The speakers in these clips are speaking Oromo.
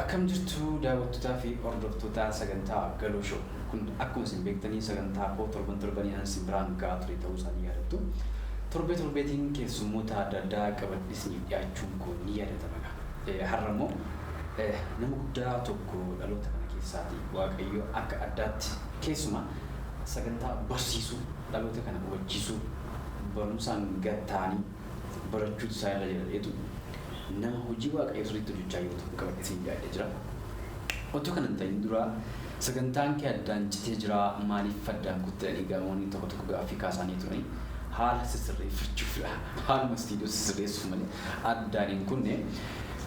Akkam jirtu daawwattotaa fi hordoftootaa sagantaa Galoo Show. Kun akkuma isin beektanii sagantaa koo torban torbanii an isin biraan ga'aa ture ta'uu isaa ni yaadattu. Torbee torbeetiin keessummoota adda addaa qabadhee isiniif dhiyaachuun koo ni yaadatama egaa. Eh, Har'a immoo eh, nama guddaa tokko dhaloota kana keessaati. Waaqayyo akka addaatti keessumaa sagantaa barsiisuu dhaloota kana hubachiisuu barumsaan gad ta'anii barachuutu isaa irra jira jedheetu nama hojii Waaqayyoo sirriitti hojjechaa jiru tokko qabadhee siin dhiyaadhee jira. Otoo kana hin ta'in dura sagantaan kee addaan citee jira maaliif addaan kutte jedhanii gaamonni tokko tokko gaaffii kaasaanii turanii haala sisirreeffachuufidha. Haaluma istiidiyoo sisirreessuuf malee addaan hin kunne.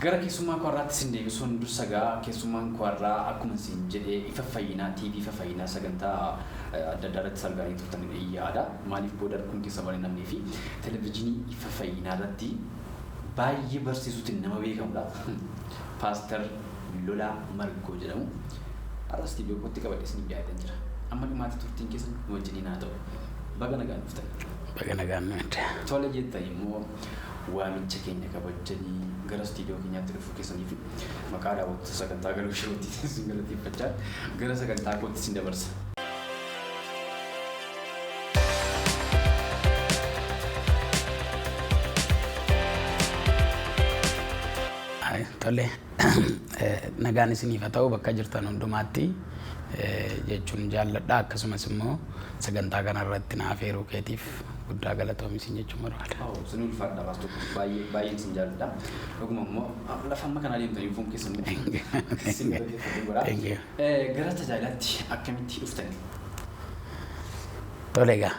Gara keessummaa koo har'aatti sin deebisuun dursa gaa keessummaan koo har'aa akkuma siin jedhe ifa fayyinaa TV ifa fayyinaa sagantaa adda addaa irratti sargaanii turtan yaada. Maaliif booda rakkoon keessa waan hin namnee fi Televijinii Ifa Fayyinaa irratti baay'ee barsiisuutiin nama beekamudha. Paastar Lolaa Margoo jedhamu. Har'a istiidiyoo kootti qabadhee isiniif dhiyaadheen jira. Amma dhumaatti turtiin keessan nu wajjiniin haa ta'u. Baga nagaan dhuftan. Baga nagaan nu hidde. Tole jettan immoo waamicha keenya kabajjanii gara istiidiyoo keenyaatti dhufuu keessaniif maqaa daawwattoota sagantaa galuu showuutti isin galateeffachaa gara sagantaa kootti isin dabarsa. Tole, nagaan isiniif haa ta'u bakka jirtan hundumaatti jechuun jaalladha. Akkasumas immoo sagantaa kana irratti na afeeruu keetiif guddaa galatoomi isin jechuun barbaada. Waaw, isin ulfaadha baas tokko baay'ee baay'een isin jaalladha. Dhuguma immoo lafa amma kana deemtanii dhufuun keessan isin galateeffadhu godha. Thank you. Gara tajaajilaatti akkamitti dhuftani? Tole egaa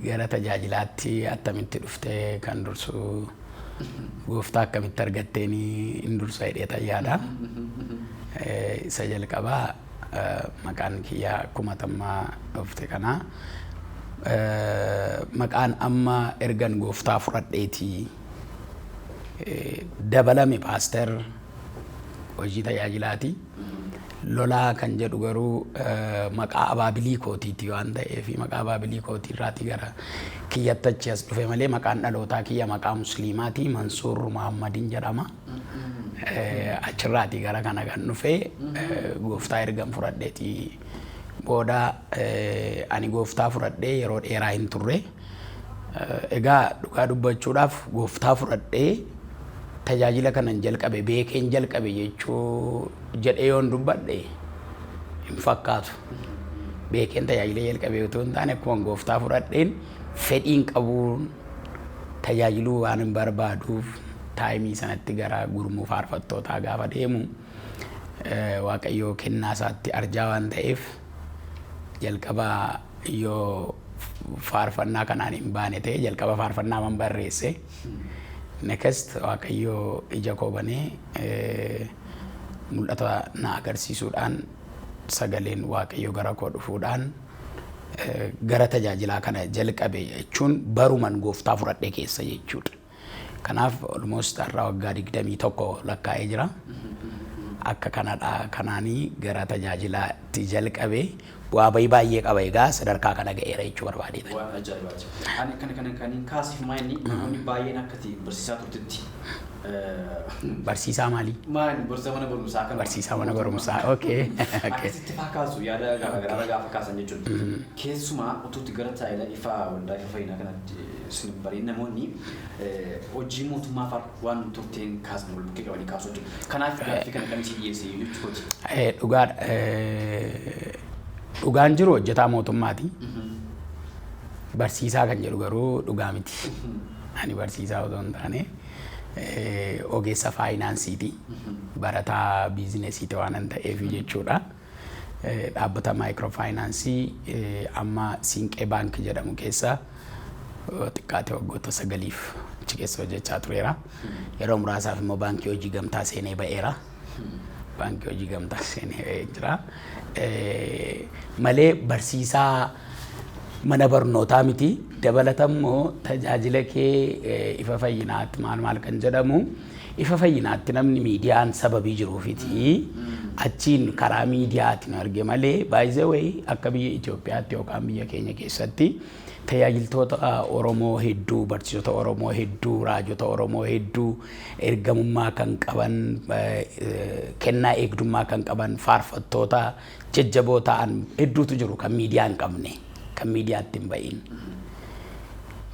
gara tajaajilaatti attamitti dhufte kan dursu gooftaa akkamitti argattee hin dursa jedhee tayyaadha. Isa jalqabaa maqaan kiyyaa akkuma tammaa dhufte kanaa maqaan amma ergan gooftaa fudhadheeti dabalame paaster hojii tajaajilaati. Lolaa kan jedhu garuu maqaa abaabilii kootiiti waan ta'eef maqaa abaabilii kootii irraatii gara kiyyattachi as dhufe malee maqaan dhalootaa kiyya maqaa musliimaati Mansuur Muhammadiin jedhama. Achirraatii gara kana kan dhufe gooftaa ergan fudhadheeti. Booda ani gooftaa fudhadhee yeroo dheeraa hin turre. Egaa dhugaa dubbachuudhaaf gooftaa fudhadhee tajaajila kanan jalqabe beekeen jalqabe jechuu jedhee yoon dubbadhe hin fakkaatu. Beekeen tajaajila jalqabee utuu hin taane akkuma gooftaa fudhadheen fedhiin qabuun tajaajiluu waan hin barbaaduuf taayimii sanatti gara gurmuu faarfattootaa gaafa deemu Waaqayyo kennaa isaatti arjaa waan ta'eef jalqaba yoo faarfannaa kanaan hin baane ta'e jalqaba faarfannaa man barreesse. Next Waaqayyo ija koo banee eh, mul'ata na agarsiisuudhaan sagaleen Waaqayyo gara koo dhufuudhaan eh, gara tajaajilaa kana jalqabe jechuun baruman gooftaa fudhadhe keessa jechuudha. Kanaaf almost har'a waggaa 21 lakkaa'ee jira. Akka kanadha kanaanii gara tajaajilaatti jalqabe bu'aa bahii baay'ee qaba egaa sadarkaa kana ga'eera jechuu barbaadeedha. Waan ajaa'ibaati. Ani kana kana kan hin kaasiif maa inni namoonni baay'een akka itti barsiisaa turtetti Barsiisaa maalii? maal barsiisaa mana barumsaa kana Barsiisaa mana barumsaa. Okay. Okay. akkasitti faa kaasu yaada garaagaraa gaafa kaasan jechuudha. Keessumaa utuutti gara taayila ifaa waldaa ifa fayyinaa kanatti Sun bariin namoonni hojii mootummaa far waan turteen kaasan wal bukkee qabanii kaasuu jiru. Kanaaf gaaffii kana kan isin dhiyeesse jechuu kooti. Dhugaa dhugaan jiru hojjetaa mootummaati. Barsiisaa kan jedhu garuu dhugaa miti. Ani barsiisaa otoo hin taane ogeessa faayinaansiiti. Barataa biizinesiiti waanan ta'eef jechuudha. Dhaabbata Maaykiroo Faayinaansii amma Siinqee Baank jedhamu keessa yoo xiqqaate waggoota sagaliif achi keessa hojjechaa tureera. Yeroo muraasaaf immoo Baankii Hojii Gamtaa seenee ba'eera. Baankii Hojii Gamtaa seenee ba'ee jira. Malee barsiisaa mana barnootaa miti. Dabalatammoo tajaajila kee ifa fayyinaatti maal maal kan jedhamu Ifa Fayyinaatti namni miidiyaan sababii jiruufiti achiin karaa miidiyaati nu arge malee by the way akka biyya Itoophiyaatti yookaan biyya keenya keessatti tajaajiltoota Oromoo hedduu, barsiisota Oromoo hedduu, raajota Oromoo hedduu ergamummaa kan qaban, kennaa eegdummaa kan qaban, faarfattoota jajjaboo ta'an hedduutu jiru kan miidiyaa hin qabne kan miidiyaatti hin ba'iin.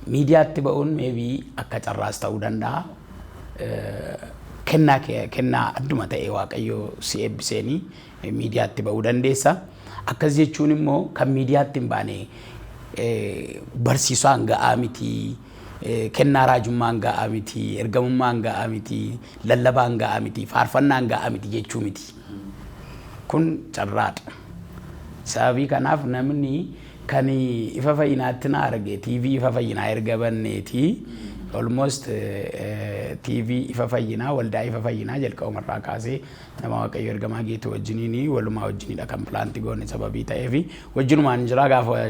Miidiyaatti ba'uun meebii akka carraas ta'uu danda'a. Kennaa kennaa adduma ta'e waaqayyoo si eebbiseenii miidiyaatti ba'uu dandeessa. Akkas jechuun immoo kan miidiyaatti hin baane barsiisaan ga'aa miti, kennaa raajummaan ga'aa miti, ergamummaan ga'aa miti, lallabaan ga'aa miti, faarfannaan ga'aa miti jechuu miti. Kun carraa dha. Sababii kanaaf namni kan ifa fayyinaatti na arge TV ifa fayyinaa erga banneeti. Almost TV ifa fayyinaa waldaa ifa fayyinaa jalqabuma irraa kaasee nama Waaqayyo ergamaa geetu wajjiniin walumaa wajjinidha kan pilaanti goone sababii ta'eef wajjinumaan jira gaafa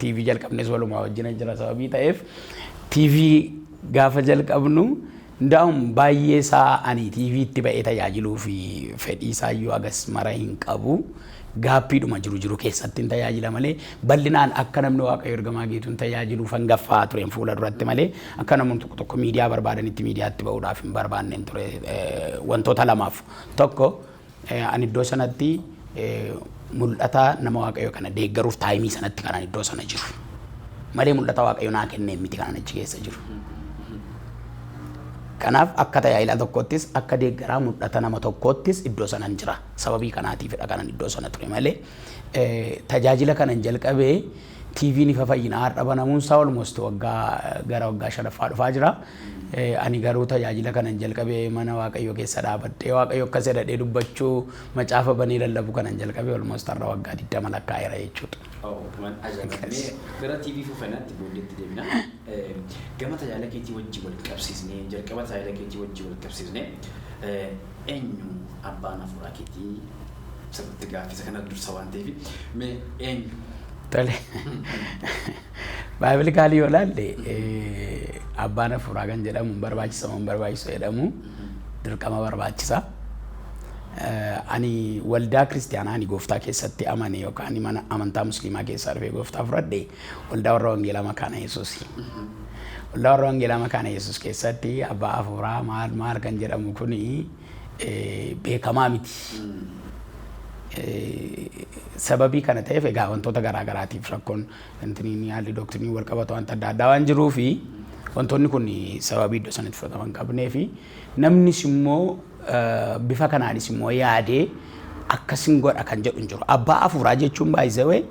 TV jalqabnes walumaa wajjina jira sababii ta'eef TV gaafa jalqabnu Ndaum baay'ee isaa ani TV tti ba'ee tajaajiluu fi fedhii isaa iyyuu hagas mara hin qabu. Gaappiidhuma jiru jiru keessattin tajaajila malee, bal'inaan akka namni Waaqayyoo Ergamaa Geetuun tajaajiluufan gaffaa'aa tureen fuula duratti malee, akka namoonni tokko tokko miidiyaa barbaadanitti miidiyaatti ba'uudhaaf hin barbaadnen ture wantoota lamaaf. Tokko, Ani iddoo sanatti mul'ata nama Waaqayyoo kana deeggaruuf taayimii sanatti kanan iddoo sana jiru. Malee mul'ata Waaqayyo naa kenneen miti kanan achi keessa jiru. Kanaaf akka tajaajilaa tokkoottis akka deeggaraa mul'ata nama tokkoottis iddoo sanan jira. Sababii kanaatiifidha kanan iddoo sana ture malee tajaajila kanan jalqabee TVn Ifa Fayyinaa har'a banamuun isaa almost waggaa gara waggaa shanaffaa dhufaa jira. Ani garuu tajaajila kanan jalqabe mana Waaqayyoo keessa dhaabadhee Waaqayyo akkas jedhadhee dubbachuu macaafa banee lallabuu kanan jalqabe almost har'a waggaa 20 lakkaa'eera jechuudha. Oh, waan ajaa'ibaati. Akkas. Mee gara TV Ifa Fayyinaatti booddeetti deebina. Eh, Gama tajaajila keetii wajjin wal qabsiisnee, jalqaba tajaajila keetii wajjin wal qabsiisnee, eh, eenyu abbaan hafuuraa keetii? Sirriitti gaaffii isa kana dursa waan ta'eef mee eenyu? Tole. Baayibilikaalii yoo ilaalle abbaan hafuuraa kan jedhamu hin barbaachisa moo hin barbaachisu jedhamu dirqama barbaachisa. Ani waldaa kiristaanaa ani gooftaa keessatti amane yookaan mana amantaa musliimaa keessaa dhufee gooftaa fudhadhe waldaa warra wangeelaa makaana yesuus. Waldaa warra wangeelaa makaana yesuus keessatti abbaa hafuuraa maal maal kan jedhamu kuni beekamaa miti. Sababii kana ta'eef egaa wantoota garaa garaatiif rakkoon intiniin haalli doktiniin wal qabatu wanta adda addaa waan jiruu fi wantoonni kun sababii iddoo sanatti fudhatama hin qabnee fi namnis immoo bifa kanaanis immoo yaadee akkasin godha kan jedhu hin jiru. Abbaa afuuraa jechuun baay'isawee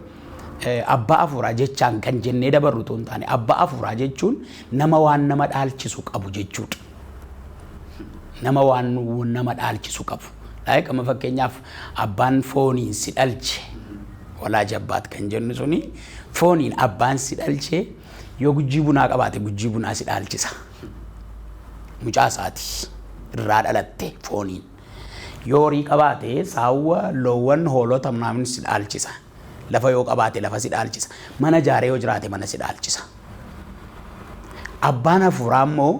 abbaa afuuraa jechaan kan jennee dabarru tun taane abbaa afuuraa jechuun nama waan nama dhaalchisu qabu jechuudha. nama waan nama dhaalchisu qabu. Like amma fakkeenyaaf abbaan fooniin si dhalche walaa jabbaat kan jennu suni fooniin abbaan si dhalche yoo gujjii bunaa qabaate gujjii bunaa si dhaalchisa. Mucaa isaati irraa dhalatte fooniin. Yoo horii qabaate saawwa, loowwan, hoolota mnaamin si dhaalchisa. Lafa yoo qabaate lafa si dhaalchisa. Mana ijaaree yoo jiraate mana si dhaalchisa. Abbaan hafuuraa immoo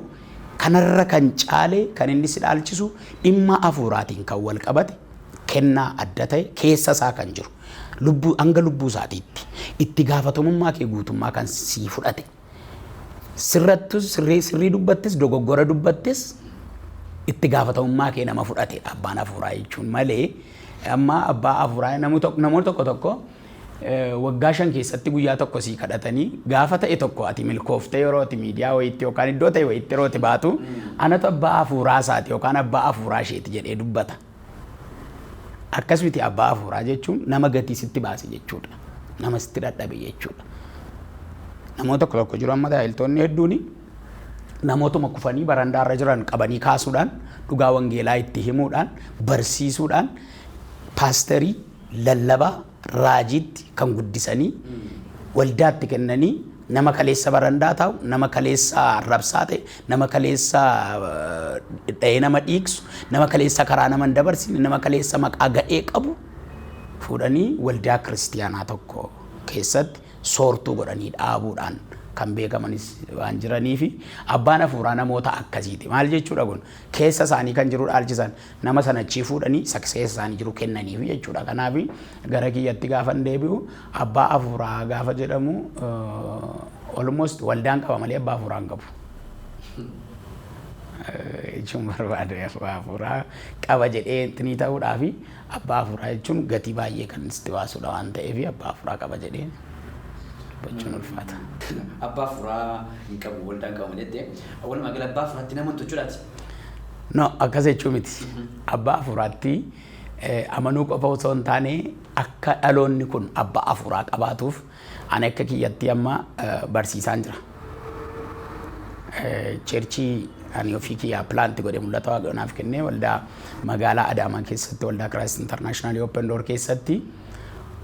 kanarra kan caale kan inni si dhaalchisu dhimma hafuuraatiin kan wal qabate kennaa adda ta'e keessa isaa kan jiru lubbuu hanga lubbuu isaatiitti itti gaafatamummaa kee guutummaa kan sii fudhate Sirrattus sirrii sirrii dubbattis dogoggora dubbattis itti gaafatamummaa kee nama fudhate abbaan hafuuraa jechuun malee amma abbaa hafuuraa namoonni tokko tokko waggaa shan keessatti guyyaa tokko sii kadhatanii gaafa ta'e tokko ati milkooftee yeroo ati miidiyaa wayiitti yookaan iddoo ta'e wayiitti yeroo ati baatu anatu abbaa hafuuraa isaati yookaan abbaa hafuuraa isheeti jedhee dubbata. Akkas miti abbaa hafuuraa jechuun nama gatii sitti baase jechuudha. Nama sitti dhadhabe jechuudha. Namoota tokko tokko jiru amma tajaajiltoonni hedduun namootuma kufanii barandaarra jiran qabanii kaasuudhaan dhugaa wangeelaa itti himuudhaan barsiisuudhaan paasterii lallabaa raajiitti kan guddisanii waldaatti kennanii nama kaleessa barandaa taa'u, nama kaleessa arrabsaa ta'e, nama kaleessa dha'ee nama dhiigsu, nama kaleessa karaa nama hin dabarsine, nama kaleessa maqaa gadhee qabu fuudhanii waldaa kiristiyaanaa tokko keessatti soortuu godhanii dhaabuudhaan kan beekamanis waan jiraniifi abbaan hafuuraa namoota akkasiiti. Maal jechuudha kun? Keessa isaanii kan jiru dhaalchisan Nama sana achii fuudhanii saksees isaanii jiru kennaniifi jechuudha. Kanaaf gara kiyyatti gaafan deebi'u abbaa hafuuraa gaafa jedhamu almost waldaan qaba malee abbaa hafuuraa hin qabu. jechuun barbaade abbaa hafuuraa qaba jedhee intinii ta'uudhaa fi abbaa hafuuraa jechuun gatii baay'ee kan sitti baasudha waan ta'eef abbaa hafuuraa qaba jedhee dubbachuun ulfaata. Abbaa hafuuraa hin qabu waldaan qaba malee jettee walumaa gala abbaa hafuuraatti nama hin tolchuudhaati. No, akkas jechuu miti. Abbaa hafuuraatti eh, amanuu qofa osoo hin taane akka dhaloonni kun abbaa hafuuraa qabaatuuf ani akka kiyyatti amma eh, barsiisaan jira. Eh, Cheerchii ani ofii kiyyaa pilaanti godhe mul'ata waaqayyo naaf kennee waldaa magaalaa Adaamaa keessatti waldaa Kiraayist Intarnaashinaal Open Door keessatti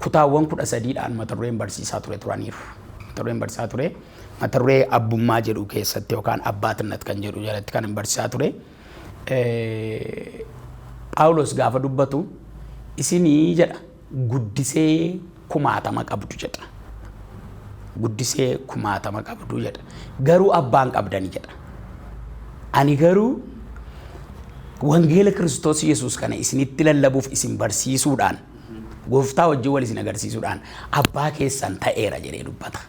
kutaawwan kudha sadiidhaan mata dureen barsiisaa ture turaniiru. Mata dureen barsiisaa ture mata duree abbummaa jedhu keessatti yookaan abbaatinnet kan jedhu jalatti kan hin barsiisaa ture. Phaawulos gaafa dubbatu isinii jedha guddisee kumaatama qabdu jedha. Guddisee kumaatama qabdu jedha. Garuu abbaan qabdani jedha. Ani garuu wangeela Kiristoos Yesuus kana isinitti lallabuuf isin barsiisuudhaan Gooftaa wajjin wal isin agarsiisuudhaan abbaa keessan ta'eera jedhee dubbata.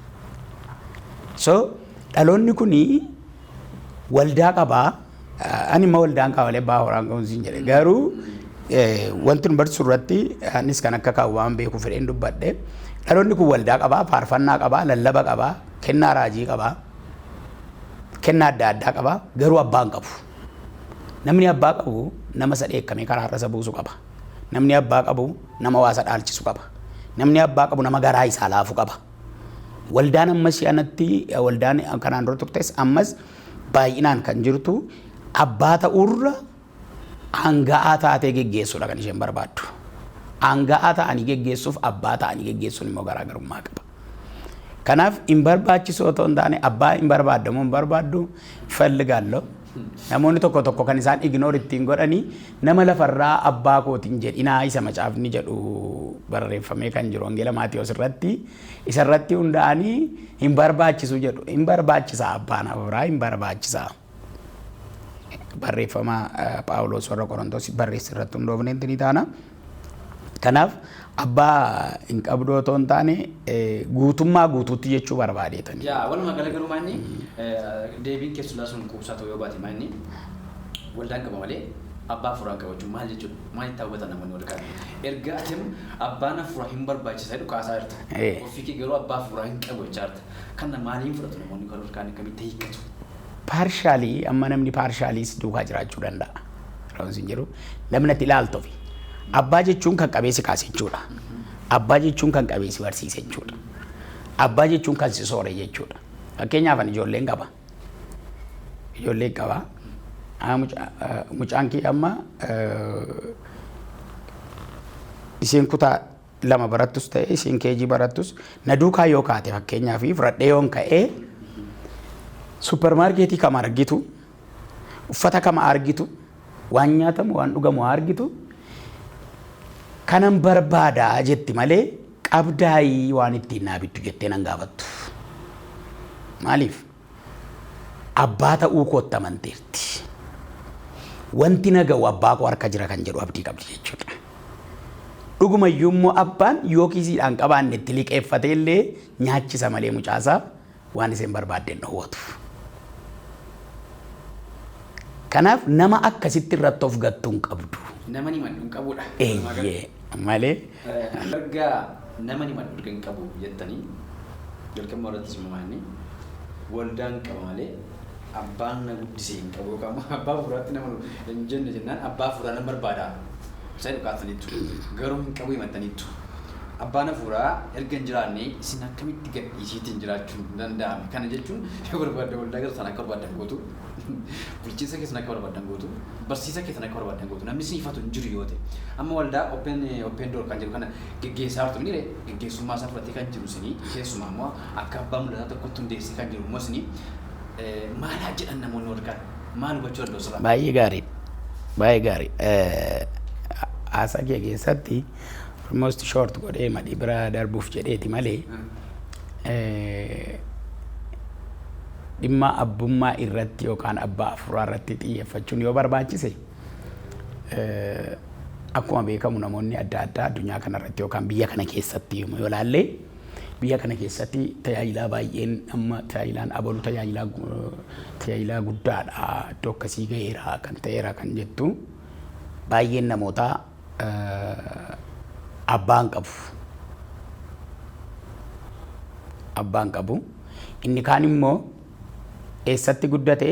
So dhaloonni kun waldaa qaba. Ani immoo waldaan qaba malee abbaa horaan qabu siin jedhe. Garuu wanti nu barsiisu irratti anis kan akka kaa'u waan beeku fedheen dubbadhe. Dhaloonni kun waldaa qaba, faarfannaa qaba, lallaba qaba, kennaa raajii qaba, kennaa adda addaa qaba. Garuu abbaa hin qabu. Namni abbaa qabu nama isa dheekkamee karaa irra isa buusu qaba. Namni abbaa qabu nama waa isa dhaalchisu qaba. Namni abbaa qabu nama garaa isaa laafu qaba. Waldaan amma ishee anatti waldaan kanaan dura turtes ammas baay'inaan kan jirtu abbaa ta'uurra aanga'aa taatee geggeessuudha kan isheen barbaaddu. Aanga'aa ta'anii geggeessuuf abbaa ta'anii geggeessuun immoo garaagarummaa qaba. Kanaaf hin barbaachisu otoo hin taane abbaa hin barbaaddamu hin barbaaddu ፈልጋለሁ Namoonni tokko tokko kan isaan ignore ittiin godhani nama lafarraa abbaa kooti hin jedhinaa isa macaafni jedhu barreeffamee kan jiru wangeela Maatiyos irratti isarratti hundaa'anii hin barbaachisu jedhu. Hin barbaachisa abbaan hafuuraa hin barbaachisa. Barreeffama Phaawulos warra Qorontos barreesse irratti hundoofneetti ni taana. Kanaaf abbaa hin qabduu otoo hin taane guutummaa guutuutti jechuu barbaadeetani. Yaa walumaa gala garuu maanni deebiin keessulaa sun quubsaa ta'uu yoo baate maanni waldaan qaba malee abbaa hafuuraan qabachuu maal jechuudha? Maal itti hawwatan namoonni wal qaban? Erga atim abbaan hafuuraa hin barbaachisa jedhu kaasaa jirta. Ofii kee garuu abbaa hafuuraa hin qabu jechaa jirta. Kana maaliin fudhatu namoonni kan olkaan akkamitti hiikkatu? Paarshaalii amma namni paarshaalii si duukaa jiraachuu danda'a. Raawwansi hin jiru. Namni ati ilaaltufi. Abbaa jechuun kan qabee si kaase jechuudha. Abbaa jechuun kan qabee si barsiise jechuudha. Abbaa jechuun kan si soore jechuudha. Fakkeenyaaf ani ijoolleen qaba. Ijoolleen qaba. Ah, muca- ah, Mucaan kee amma eh, isiin kutaa lama barattus ta'e isiin keejii barattus na duukaa yoo kaate fakkeenyaaf fudhadhee yoon ka'ee suppermaarkeetii kam argitu uffata kam argitu Waan nyaatamu, waan dhugamu haa argitu. Kanan barbaada jetti malee qabdaayii waan ittiin naa bittu jettee nan gaafattu. Maaliif? Abbaa ta'uu kootti amanteerti. Wanti na ga'u abbaa koo harka jira kan jedhu abdii qabdi jechuudha. Dhugumayyuu immoo abbaan yoo kiisiidhaan qabaanne itti liqeeffatee illee nyaachisa malee mucaasaa waan isheen barbaadde hin dhowwatu. Kanaaf nama akkasitti irratti of gattu hin qabdu. Nama ni maddu hin qabudha. Eeyyee malee Erga nama ni maddu hin qabu jettanii jalqabuma irrattis immoo maanni waldaan qaba malee Abbaan na guddise hin qabu yookaan immoo abbaa hafuuraatti nama hin jenne jennaan abbaa hafuuraa nan barbaada. Isa jedhu kaaftaniittu. Garuu hin qabu himattaniittu. Abbaan hafuuraa erga hin jiraanne isin akkamitti gadhiisiitiin jiraachuun danda'ame? Kana jechuun yoo barbaaddan waldaa keessan akka barbaaddan gootu, bulchiinsa keessan akka barbaaddan gootu, barsiisa keessan akka barbaaddan gootu, namni isin ifatu hin jiru yoo ta'e. Amma waldaa open open door kan jedhu kana geggeessaa jirtu miti ree? Geggeessummaa isaa fudhatee kan jiru isinii keessumaa immoo akka abbaa mul'ataa tokkotti hundeessee kan jiru mosni maal haa jedhan namoonni warri kaan maal hubachuu danda'u sirraa? Baay'ee gaarii. Baay'ee gaarii. Haasaa kee keessatti almost short godhee madhi bira darbuuf jedheeti malee dhimma abbummaa irratti yookaan abbaa afuuraa irratti xiyyeeffachuun yoo barbaachise akkuma beekamu namoonni adda addaa addunyaa kanarratti yookaan biyya kana keessatti yommuu yoo ilaalle Biyya kana keessatti tajaajilaa baay'een amma tajaajilaan abalu tajaajilaa tajaajilaa guddaadha iddoo akkasii ga'eera kan ta'eera kan jettu baay'een namootaa abbaan qabu. Abbaan qabu. Inni kaan immoo Eessatti guddate?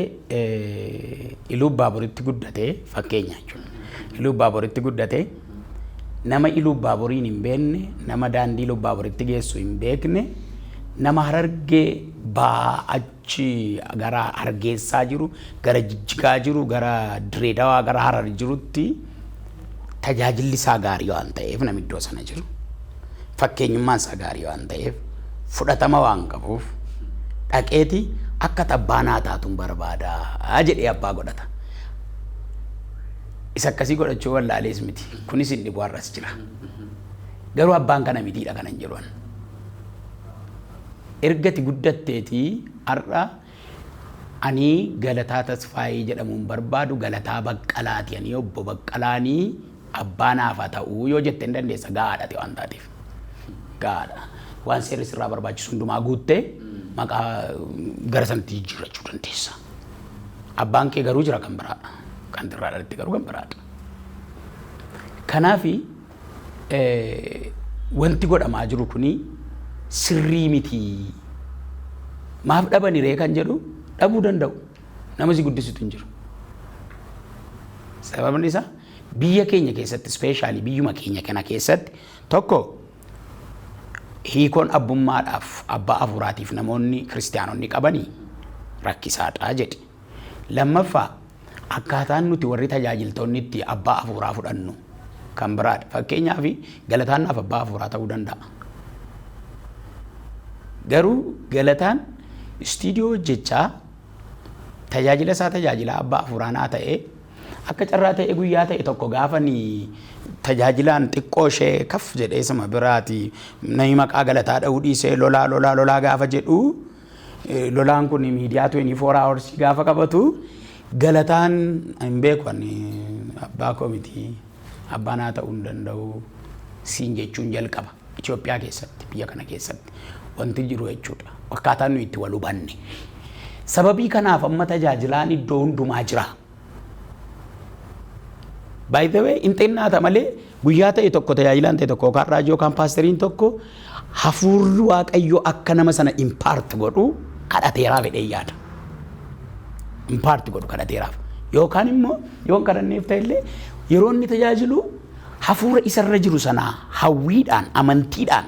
Iluu Baaboritti guddate fakkeenya jechuudha. Iluu Baaboritti guddate nama Iluu Baaboriin hin beekne, nama daandii Iluu Baaboritti geessu hin beekne, nama harargee ba'aa achi gara hargeessaa jiru, gara jijjigaa jiru, gara direedawaa, gara harar jirutti tajaajilli isaa gaarii waan ta'eef namni iddoo sana jiru fakkeenyummaan isaa gaarii waan ta'eef fudhatama waan qabuuf dhaqeeti akka abbaa naa taatuun barbaada jedhee abbaa godhata. Isa akkasii godhachuu wallaalees miti kunis hin dhibu har'as jira. Garuu abbaan kana mitiidha kanan jedhu. Ergati guddatteetii har'a Ani Galataa Tasfaayee jedhamuun barbaadu Galataa Baqqalaati ani obbo Baqqalaani abbaa naaf haa ta'u yoo jette hin dandeessa gahaadha ati waan taateef. Gahaadha. Waan seerri sirraa barbaachisu hundumaa guuttee maqaa gara sanatti jijjiirrachuu dandeessa. Abbaan kee garuu jira kan biraa. Kan irraa dhalatte garuu kan biraadha. Kanaafi Wanti godhamaa jiru kun sirrii miti. Maaf dhabani ree kan jedhu dhabuu danda'u. Nama si guddisutu hin jiru. Sababni isaa biyya keenya keessatti ispeeshaalii biyyuma keenya kana keessatti tokko hiikoon abbummaadhaaf abbaa hafuuraatiif namoonni kiristaanonni qabanii rakkisaadhaa jedhi. Lammaffaa Akkaataan nuti warri tajaajiltoonni itti abbaa hafuuraa fudhannu kan biraadha. Fakkeenyaaf galataan naaf abbaa hafuuraa ta'uu danda'a. Garuu galataan istiidiyoo hojjechaa tajaajila isaa tajaajilaa abbaa hafuuraa naa ta'e akka carraa ta'e guyyaa ta'e tokko gaafani tajaajilaan xiqqoo ishee kaf jedhee suma biraati namni maqaa galataa dha'uu dhiisee lolaa lolaa lolaa gaafa jedhu Lolaan kun miidiyaa 24 hours gaafa qabatu galataan hin beeku ani abbaa koo miti abbaa naa ta'uu hin danda'u siin jechuun jalqaba Itoophiyaa keessatti biyya kana keessatti wanti jiru jechuudha akkaataa nuyi itti wal hubanne sababii kanaaf amma tajaajilaan iddoo hundumaa jira. By the way, hin xinnaata malee guyyaa ta'e tokko tajaajilaan ta'e tokko yookaan raajii yookaan paasteriin tokko hafuurri waaqayyoo akka nama sana impaart godhu kadhateeraa fedhee yaada. Impaart godhu kadhateeraaf. Yookaan immoo yoon kadhanneef ta'e illee yeroo inni tajaajilu hafuura isarra jiru sanaa hawwiidhaan amantiidhaan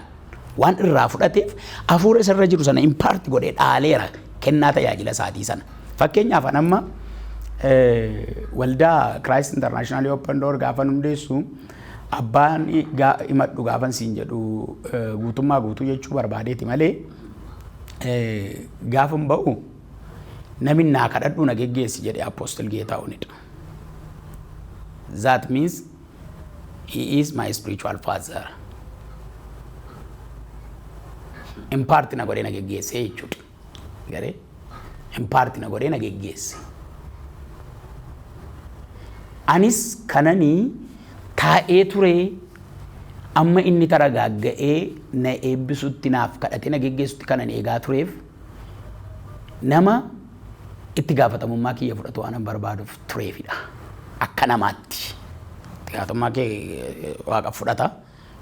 Waan irraa fudhateef hafuura isa irra jiru sana impaarti godhee dhaaleera kennaa tajaajila isaatii sana. Fakkeenyaaf an amma waldaa Kiraayist Intarnaashinaal Open Door gaafan hundeessu abbaan himadhu gaafan siin jedhu guutummaa guutuu jechuu barbaadeeti malee gaafan ba'u namin naa kadhadhuu na geggeessi jedhe Apostle Geetaahunidha. That means He is my spiritual father. In part na godhee na geggeessee jechuudha. Garee in part na godhee na geggeesse. Anis kananii taa'ee turee amma inni taragaagga'ee na eebbisutti naaf kadhatee na geggeessutti kanan eegaa tureef nama Itti gaafatamummaa kiyya fudhatu waanan barbaaduuf tureefidha. Akka namaatti. Itti gaafatamummaa kee Waaqa fudhata.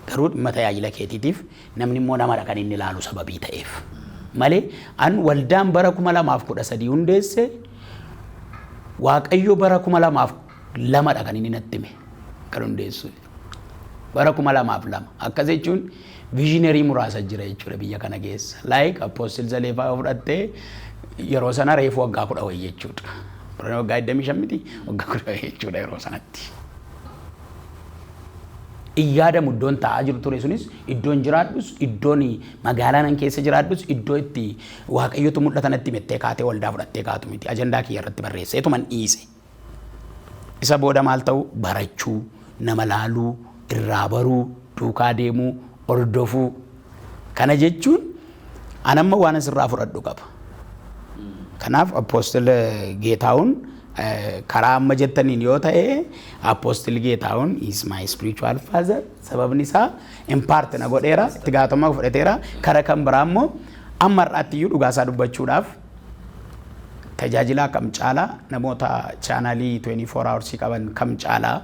Garuu dhimma tajaajila keetiitiif namni immoo namadha kan inni ilaalu sababii ta'eef. Malee an waldaan bara 2013 hundeesse Waaqayyo bara 2002 dha kan inni natti hime kan hundeessu. Bara 2002 akkas jechuun viizhinerii muraasa jira jechuudha biyya kana keessa. Like Apostle Zaleefaa yoo fudhatte yeroo sana reefu waggaa kudha wayii jechuudha. Bara waggaa 25 miti waggaa kudha wayii jechuudha yeroo sanatti. Iyyaadamu iddoon taa'aa jiru ture sunis iddoon jiraadhus iddoon magaalaa nan keessa jiraadhus iddoo itti waaqayyotu mul'ata natti mettee kaatee waldaa fudhattee kaatu miti ajandaa kiyya irratti barreesseetu man dhiise. Isa booda maal ta'uu? Barachuu, nama laaluu, irraa baruu, duukaa deemuu, hordofuu. Kana jechuun an amma waan asirraa fudhadhu qaba. Kanaaf appoostil Geetaawun karaa amma jettaniin yoo ta'e appoostil Geetaawun is my spiritual father sababni isaa impaart na godheera itti gaafatamummaa fudhateera kara kan biraa immoo amma har'aatti iyyuu dhugaa isaa dubbachuudhaaf Tajaajilaa kam caalaa namoota chaanaalii 24 hours qaban kam caalaa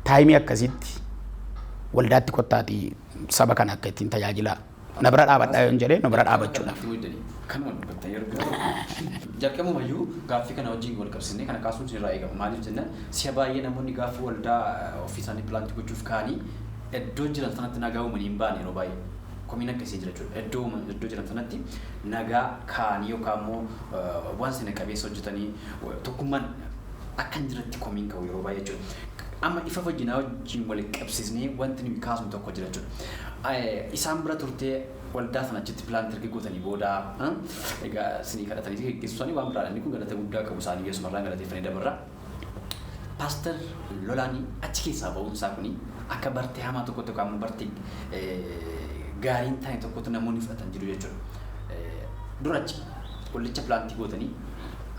taayimii akkasitti waldaatti kottaati saba kana akka ittiin tajaajilaa na bira dhaabadhaa yoon jedhee na bira dhaabachuudhaaf. Kanuma dubbatta yeroo biraa jalqabumayyuu gaaffii kana wajjin wal qabsiisnee kana kaasuun sirraa eegama. Maaliif jennaan si'a baay'ee namoonni gaafa waldaa ofii isaanii pilaantii gochuuf ka'anii iddoo jiran sanatti nagaa uumanii hin baane yeroo baay'ee. komiin akkasii jira jechuudha. Iddoo uuman iddoo jiran sanatti nagaa kaa'anii yookaan immoo waan sina qabeessa hojjetanii tokkummaan akka hin jiretti komiin ka'u yeroo baay'ee jechuudha. Amma ifa fayyinaa wajjin wal qabsiisnee wanti nuyi kaasnu tokko jira jechuudha. Isaan bira turtee waldaa sana achitti pilaanti erga gootanii booda egaa sinii kadhatanii geggeessu isaanii waan biraadha. Inni kun galata guddaa qabu isaanii Yesuus marraan galateeffanii dabarra. Paster Lolaani achi keessaa ba'uun isaa kuni akka bartee hamaa tokkotti yookaan immoo bartee gaarii hin taane tokkotti namoonni fudhatan jiru jechuudha. Dura achi qullicha pilaantii gootanii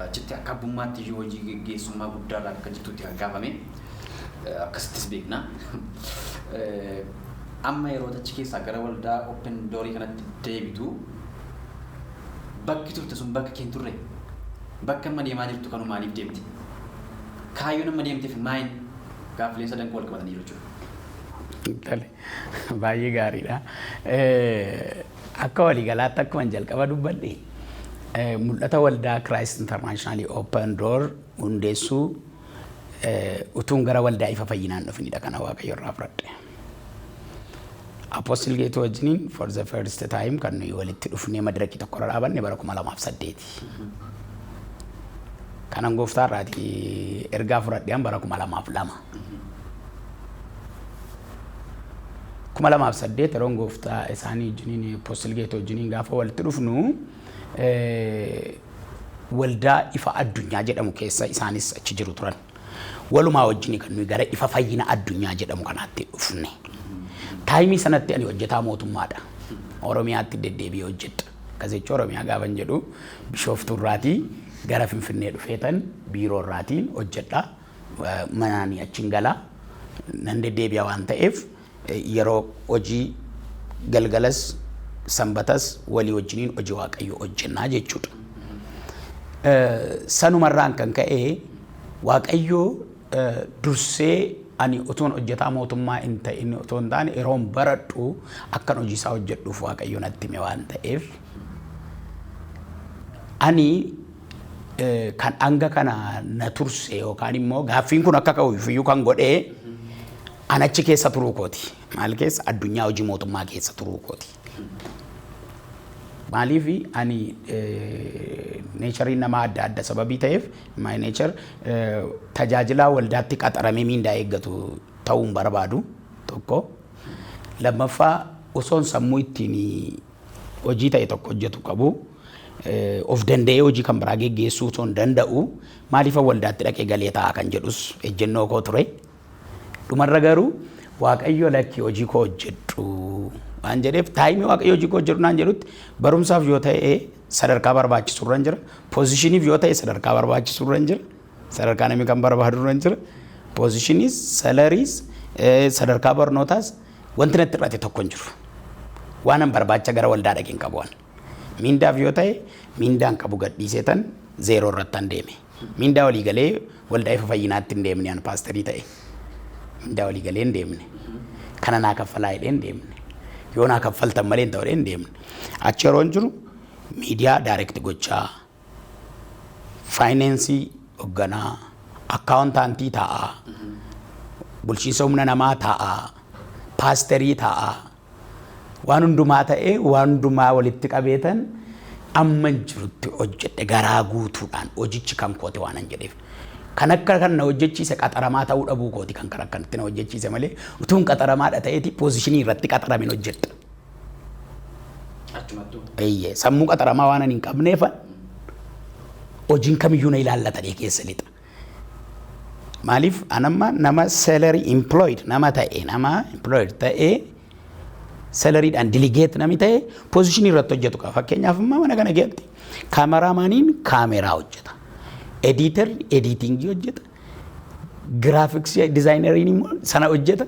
achitti akka abbummaatti iyyuu hojii geggeessummaa guddaa irraa akka jirtutti kan kaafame akkasittis beekna. Amma yeroo achi keessaa gara waldaa Open Doorii kanatti deebitu bakki turte sun bakka kee hin turre. Bakki amma deemaa jirtu kanoo maaliif deemte? Kaayyoon amma deemteef maayin? Gaaffileen sadan kun walqabataniiru jechuudha. Tole, baay'ee gaariidha. Akka waliigalaatti akkuman jalqaba dubbadhe mul'ata waldaa Christ International Open Door hundeessuu utuun gara waldaa ifa fayyinaan dhufnidha kana Waaqayyo irraa fudhadhe. Apostle Geetuu wajjiniin for the first time kan nuyi walitti dhufnee madirakii tokko irra dhaabanne bara 2008. Kanan gooftaa irraati ergaa fudhadheen bara 2002. 2008 yeroon gooftaa isaanii wajjiniin Apostle Geetuu wajjiniin gaafa walitti dhufnu eh, waldaa ifa addunyaa jedhamu keessa isaanis achi jiru turan. Walumaa wajjini kan nuyi gara ifa fayyina addunyaa jedhamu kanaatti dhufne. Taayimii sanatti ani hojjetaa mootummaadha. Oromiyaatti deddeebi'ee hojjedha. Akkasichi Oromiyaa gaafan jedhu bishooftuu irraatii gara Finfinnee dhufeetan biiroo irraatiin hojjedha. Manaani achiin gala. Nan deddeebi'a waan ta'eef Yeroo hojii galgalas sanbatas walii wajjiniin hojii waaqayyoo hojjennaa jechuudha. Sanuma irraan kan ka'e waaqayyoo dursee ani utuun hojjetaa mootummaa hin ta'in otoo hin taane yeroon baradhu akkan hojii isaa hojjedhuuf waaqayyo natti hime waan ta'eef ani kan hanga kana na turse yookaan immoo gaaffiin kun akka ka'uuf iyyuu kan godhee An achi keessa turuu kooti. Maal keessa? Addunyaa hojii mootummaa keessa turuu kooti. Maaliif ani neechariin namaa adda adda sababii ta'eef my nature eh, tajaajilaa waldaatti qaxaramee miindaa eeggatu ta'uu hin barbaadu tokko. Lammaffaa osoon sammuu ittiin hojii ta'e tokko hojjetu qabu eh, of danda'ee hojii kan biraa geggeessuu osoo hin danda'u maaliif waldaatti dhaqee galee ta'a kan jedhus ejjennoo koo ture. Dhumarra garuu Waaqayyo lakki hojii koo hojjedhu waan jedheef taayimii Waaqayyo hojii koo hojjedhu naan jedhutti barumsaaf yoo ta'e sadarkaa barbaachisu irra jira. Poozishiniif yoo ta'e sadarkaa barbaachisu irra jira. Sadarkaa namni kan barbaadu irra jira. Poozishiniis, salariis, sadarkaa barnootaas wanti natti hir'ate tokko hin jiru. Waanan barbaacha gara waldaa dhaqeen qabu waan. Mindaaf yoo ta'e mindaan qabu gadhiiseetan zeeroo irrattan deeme. Mindaa walii galee waldaa ifa fayyinaatti hin deemne an paasterii ta'e. Mindaa walii galee hin deemne. Kana naa kaffalaa jedhee hin deemne. Yoo naa kaffaltan malee hin ta'u jedhee hin deemne. Achi yeroon jiru miidiyaa daayirekti gochaa faayinaansii hogganaa akkaawuntaantii taa'aa bulchiinsa humna namaa taa'aa paasterii taa'aa Waan hundumaa ta'ee, waan hundumaa walitti qabeetan amman jirutti hojjedhe garaa guutuudhaan hojichi kan kooti waanan jedheef. Kan akka kan na hojjechiise qaxaramaa ta'uu dhabuu kooti kan kan akkanatti na hojjechiise malee utuun qaxaramaadha ta'eeti poozishinii irratti qaxaramin hojjedha. Achumattuu. Eeyyee sammuu qaxaramaa waanan hin qabneefan hojiin kamiyyuu na ilaallatanii keessa lixa. Maaliif anamma nama salary employed nama ta'e nama employed ta'e salaryidhaan delegate nami ta'e position irratti hojjetu qaba. Fakkeenyaaf amma mana kana keessatti kaameraamaaniin kaameraa hojjeta. Ediitarri ediitingii hojjeta. Giraafiksii dizaayinariin immoo sana hojjeta.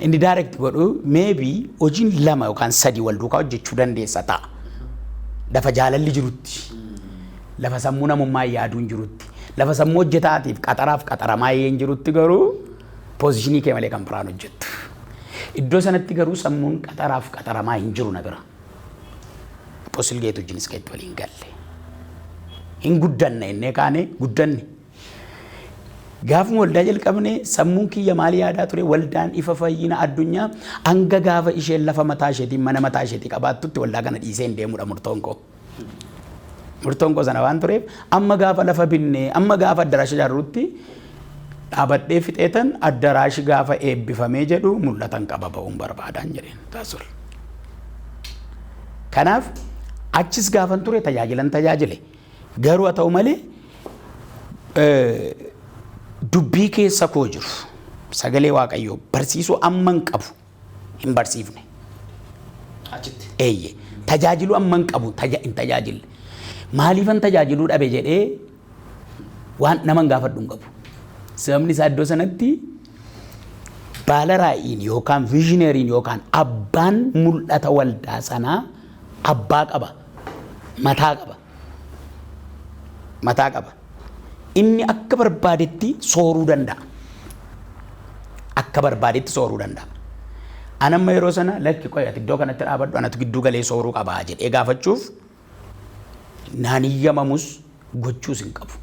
Inni direct godhu maybe hojiin lama yookaan sadii wal duukaa hojjechuu dandeessa ta'a. Lafa jaalalli jirutti, lafa sammuu namummaa yaaduun jirutti, lafa sammuu hojjetaatiif qaxaraaf qaxaramaa yeen jirutti garuu poozishinii kee malee kan biraan hojjettu. Iddoo sanatti garuu sammuun qaxaraaf qaxaramaa hin jiru na bira. Posilgeetu wajjinis keetti waliin galle. Hin guddanne innee kaane guddanne. Gaafuma waldaa jalqabnee sammuun kiyya maal yaadaa ture? Waldaan ifa fayyina addunyaa hanga gaafa isheen lafa mataa isheetii mana mataa isheetii qabaattutti waldaa kana dhiisee hin deemudha murtoon koo. Murtoon koo sana waan tureef amma gaafa lafa binnee amma gaafa addaraasha ijaarrutti dhaabadhee fixeetan addaraashi gaafa eebbifamee jedhu mul'atan qaba ba'uun barbaadaan jedheen taasol. Kanaaf achis gaafan ture tajaajilan tajaajile. Garuu haa ta'u malee dubbii keessa koo jiru sagalee waaqayyoo barsiisuu amman qabu hin barsiifne. Achitti. Eeyye tajaajiluu amman qabu taja hin tajaajille. Maaliifan tajaajiluu dhabe jedhee waan naman gaafadhu hin qabu. Sababni isaa iddoo sanatti baala raa'iin yookaan viizhineeriin yookaan abbaan mul'ata waldaa sanaa abbaa qaba, mataa qaba. Mataa qaba. Inni akka barbaadetti sooruu danda'a. Akka barbaadetti sooruu danda'a. Anamma yeroo sana lakki qoy ati iddoo kanatti dhaabadhu anatu gidduu galee sooruu qabaa jedhee gaafachuuf naan hiyyamamus gochuus hin qabu.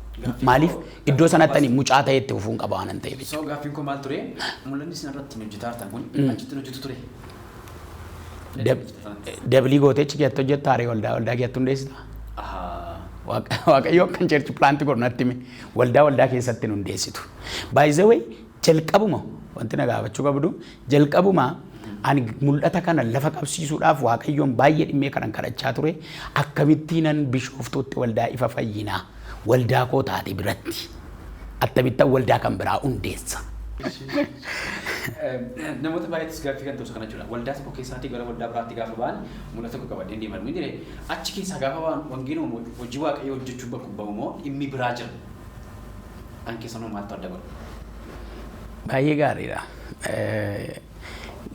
Maaliif iddoo sanatti ani mucaa ta'ee itti fufuun qaba waanan ta'eef jechuudha. Soo gaaffiin koo maal ture? Mul'anni isin irratti hojjetaa jirtan kun achitti hin hojjetu ture. Dablii gootee achi keessatti hojjetta haree waldaa waldaa keessatti hundeessita. Ahaa. Waaqa- Waaqayyoo kan cheerchi pilaanti godhu natti hime waldaa waldaa keessatti hin hundeessitu. Baay'isawee jalqabuma wanti na gaafachuu qabdu Jalqabuma ani mul'ata kana lafa qabsiisuudhaaf Waaqayyoon baay'ee dhimmee kanan kadhachaa ture, akkamittiinan Bishooftuutti waldaa Ifa Fayyinaa waldaa koo taate biratti attamittan waldaa kan biraa hundeessa? Namoota baay'eettis gaaffii kan ta'u isa kana jechuudha. Waldaa tokko keessaatii gara waldaa biraatti gaafa ba'an mul'ata tokko qabadheen deema nuun jedhe. Achi keessaa gaafa ba'an wangeeluma moo hojii Waaqayyoo hojjechuu bakka ba'u moo dhimmi biraa jira? Kan keessanoo maaltu adda godha? Baay'ee gaariidha.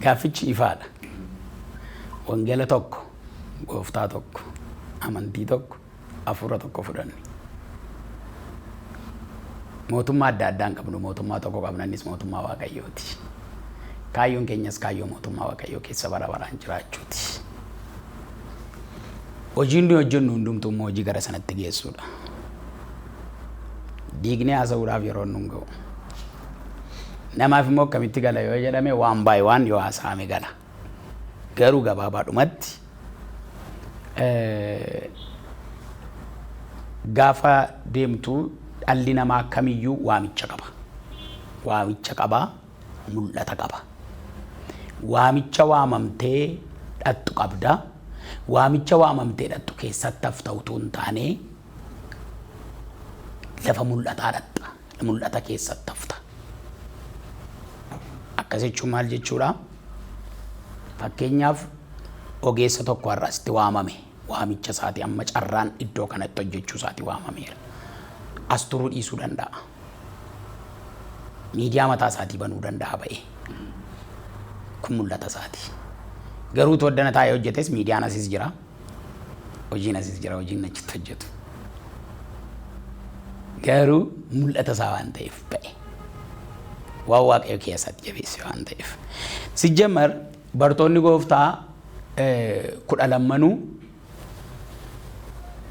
Gaaffichi ifaadha. Wangeela tokko, gooftaa tokko, amantii tokko, hafuura tokko fudhanne. Mootummaa adda addaa hin qabnu, mootummaa tokko qabna innis mootummaa Waaqayyooti. Kaayyoon keenyas kaayyoo mootummaa Waaqayyoo keessa bara baraan jiraachuuti. Hojiin nuyi hojjennu hundumtuu immoo hojii gara sanatti geessudha. Diignee haasa'uudhaaf yeroon nu hin ga'u. Namaaf immoo akkamitti gala yoo jedhame waan baay'ee waan yoo haasa'ame gala. Garuu gabaabaadhumatti gaafa deemtu dhalli namaa kamiyyuu waamicha qaba. Waamicha qaba, mul'ata qaba. Waamicha waamamtee dhattu qabda. Waamicha waamamtee dhattu keessatti hafta utuu hin taane lafa mul'ataa dhatta. Mul'ata keessatti hafta. Akkas jechuun maal jechuudha? Fakkeenyaaf ogeessa tokko har'a asitti waamame. Waamicha isaati amma carraan iddoo kanatti hojjechuu isaati waamameera. As turuu dhiisuu danda'a. Miidiyaa mataa isaatii banuu danda'a ba'ee. Kun mul'ata isaati. Garuu tooddana taa'ee hojjetes miidiyaan asis jira. Hojiin asis jira, hojiin achitti hojjetu. Garuu mul'ata isaa waan ta'eef ba'e. Waan waaqayyo keessatti jabeesse waan ta'eef. Sijjamar bartoonni gooftaa kudha lammanuu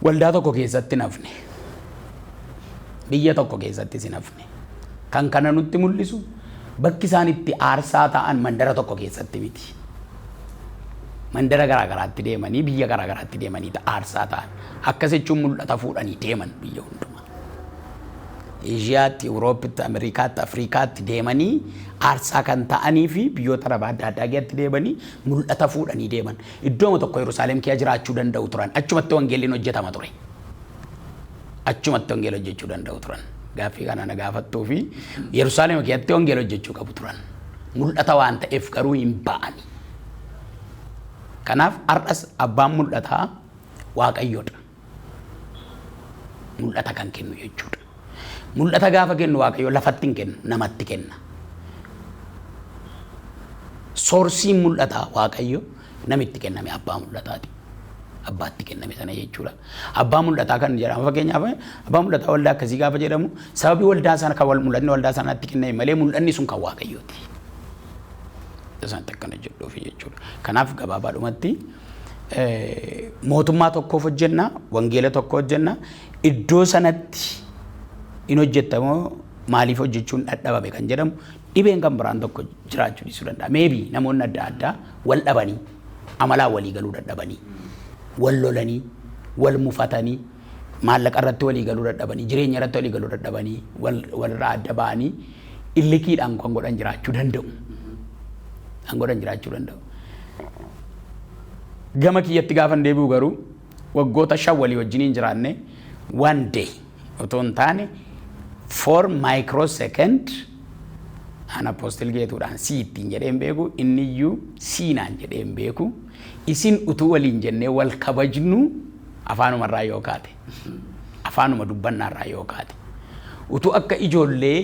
waldaa tokko keessatti hin hafne. Biyya tokko keessattis hin hafne. Kan kana nutti mul'isu bakki isaan itti aarsaa ta'an mandara tokko keessatti miti. Mandara garaa garaatti deemanii biyya garaa garaatti deemanii aarsaa ta'an. Akkas jechuun mul'ata fuudhanii deeman biyya hundumaa. Eeshiyaatti, Awurooppitti, Ameerikaatti, Afriikaatti deemanii aarsaa kan ta'anii fi biyyoota Arabaa adda addaa keessatti deemanii mul'ata fuudhanii deeman. Iddooma tokko Yerusaalem keessa jiraachuu danda'u turan. Achumatti wangeelliin hojjetama ture. achumatti wangeela hojjechuu danda'u turan. Gaaffii kana na gaafattuu fi Yerusaalem keessatti wangeela hojjechuu qabu turan. Mul'ata waan ta'eef garuu hin ba'ani. Kanaaf har'as abbaan mul'ataa waaqayyoodha. Mul'ata kan kennu jechuudha. Mul'ata gaafa kennu waaqayyo lafatti hin kennu namatti kenna. Soorsiin mul'ataa waaqayyo Namitti kenname abbaa mul'ataati. Abbaatti kenname sana jechuudha. Abbaa mul'ataa kan jedhamu fakkeenyaaf abbaa mul'ataa waldaa akkasii gaafa jedhamu sababii waldaa sana kan wal mul'atni waldaa sanaatti kenname malee mul'anni sun kan waaqayyooti. Isaanitti akkana jedhuuf jechuudha. Kanaaf gabaabaadhumatti mootummaa tokkoof hojjenna, wangeela tokko hojjenna, iddoo sanatti hin hojjettamoo maaliif hojjechuun dhadhabame kan jedhamu Dhibeen kan biraan tokko jiraachuu dhiisuu danda'a. Maybe namoonni adda addaa wal dhabanii, amalaan walii galuu dadhabanii, wal lolanii, wal mufatanii, maallaqa irratti walii galuu dadhabanii, jireenya irratti walii galuu dadhabanii, wal walirraa adda ba'anii illikiidhaan kan godhan jiraachuu danda'u. Kan godhan jiraachuu danda'u. Gama kiyyatti gaafan deebi'u garuu Waggoota shan walii wajjiniin jiraannee one day otoo hin taane for micro second an apostle geetuudhaan sii ittiin jedhee hin beeku inni iyyuu sii naan jedhee hin beeku isin utuu waliin jennee wal kabajnuu afaanuma irraa yoo kaate afaanuma dubbannaa irraa yoo kaate utuu akka ijoollee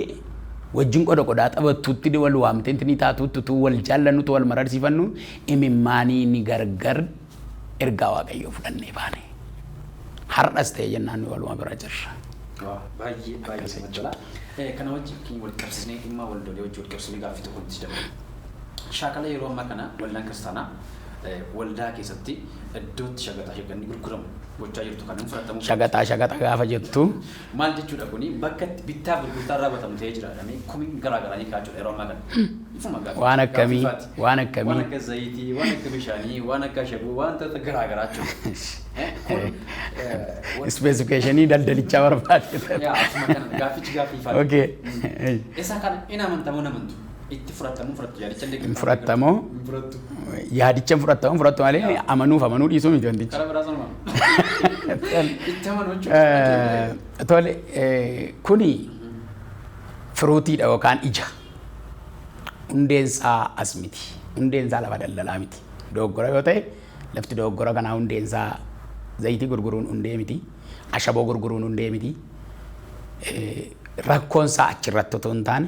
wajjin qoda qodaa taphattuutti wal waamtee ni taatuutti utuu wal jaallannuutti wal mararsiifannu imimmaanii ni gargar Ergaa Waaqayyoo fudhannee baane. Har'as ta'e jennaan nu waluma bira jirra. Baay'ee baay'ee nama tola. Kana wajjin wal qabsiisnee dhimma waldolee wajjin wal qabsiisnee gaaffii tokko nuti dabala. Shaakala yeroo ammaa kana waldaan kiristaanaa waldaa keessatti iddootti shagaxaa shaganni gurguramu gochaa jirtu kan hin fudhatamu. Shagaxaa shagaxa gaafa jettu. Maal jechuudha kuni bakka itti bittaa gurgurtaan raawwatamu ta'ee jira jedhamee komiin garaa garaa ni ka'aa jira yeroo ammaa kana. Ifuma gaaffii Waan akkamii? gaaffiifaati. Waan Waan akkamii? akka zayitii, waan akka bishaanii, waan akka ashaboo, wantoota garaa garaa jechuudha. Eh, Kun eh, wanti- Ispeesifikeeshinii daldalichaa barbaade. yaa, akkuma kana gaaffichi gaaffiifaati. Okay. Isa kana hin amantamoo hin amantu? Itti fudhatamuu fudhattu yaadicha illee hin fudhattamoo hin fudhattu. yaadicha hin fudhattamoo hin fudhattu malee amanuuf amanuu dhiisuu miti wantichi. Karaa biraa sanuma. Itti amanuu jechuun. Eh, Tole eh, kuni firuutiidha yookaan ija. Hundeen isaa as miti. Hundeen isaa lafa daldalaa miti. Dogoggora yoo ta'e lafti dogoggora kanaa hundeen isaa zayitii gurguruun hundee miti. Ashaboo gurguruun hundee miti. Eh, Rakkoon isaa achirratti otoo hin taane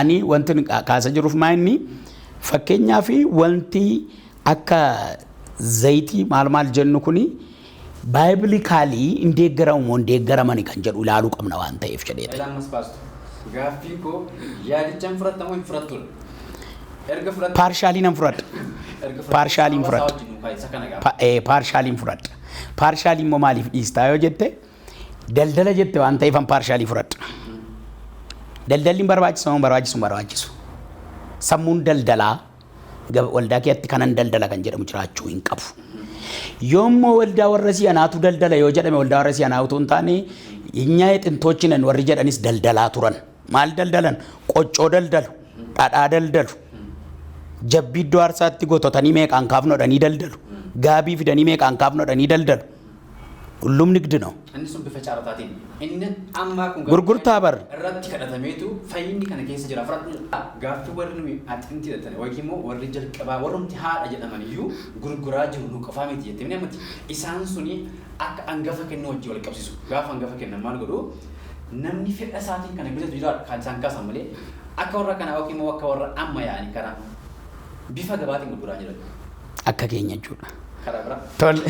Ani wantin kaasa jiruf maa inni fakkeenyaaf wanti akka zayitii maal maal jennu kuni baayiblikaalii hin deeggaramu moo hin deeggaramani kan jedhu ilaaluu qabna waan ta'eef jedhee ta'e. Egaa ammas paastu gaaffiin koo yaadicha hin fudhatta moo hin fudhattudha? Erga fudhatte Paarshaalii nan fudhadha. erga fudhatte Paarshaalii hin hawaasa fudhadha. wajjin hin kaa'in isa kana gaafa. Pa- eh, Paarshaalii hin fudhadha. Paarshaalii immoo maaliif dhiistaa yoo jette Daldala jette waan ta'eef an paarshaalii fudhadha. Daldalli hin barbaachisu hin barbaachisu hin barbaachisu. Sammuun daldalaa gab- waldaa keessatti kanan daldala kan jedhamu jiraachuu hin qabu. Yoommoo waldaa warra si'anaatu daldala yoo jedhame waldaa warra si'anaa utuu hin taane nyaa xintoochinan warri jedhanis daldalaa turan. Maal daldalan? Qoccoo daldalu, dhadhaa daldalu, jabbii iddoo aarsaatti gototanii meeqaan kaafnodhanii daldalu, gaabii fidanii meeqaan kaafnodhanii daldalu. ሁሉም ንግድ ነው። Inni sun bifa caarataatiin. Inni ammaa kun garuu Gurgurtaa bar. irratti kadhatameetu fayyinni kana keessa jira fudhadhu jedha. Gaaffii warri nuyi axinti jedhatan yookiin immoo warri jalqabaa warrumti haadha jedhaman iyyuu gurguraa jiru nu qofaa miti jettee ni amanti. Isaan suni akka angafa kennuu wajjin wal qabsiisu. Gaafa angafa kennan maal godhu? Namni fedha isaatiin kana bitatu jira kan isaan kaasan malee akka warra kanaa yookiin immoo akka warra amma yaa'anii kanaa bifa gabaatiin gurguraa jiran. akka keenya jechuudha. Karaa biraa. Tole.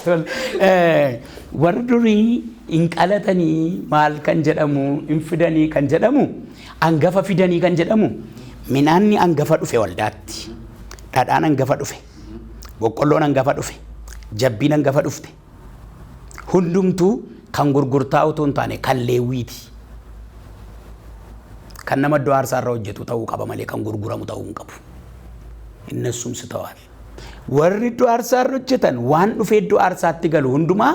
Tole. Eh, Warri durii hin qalatanii maal kan jedhamu hin fidanii kan jedhamu hangafa fidanii kan jedhamu midhaanni hangafa dhufe waldaatti dhadhaan hangafa dhufe boqqolloon hangafa dhufe jabbiin hangafa dhufte Hundumtuu kan gurgurtaa utuu hin taane kan Leewwii ti. Kan nama iddoo aarsaa irra hojjetu ta'uu qaba malee kan gurguramu ta'uu hin qabu. Innessum sitawal. Warri iddoo aarsaa irra hojjetan waan dhufee iddoo aarsaatti galu hundumaa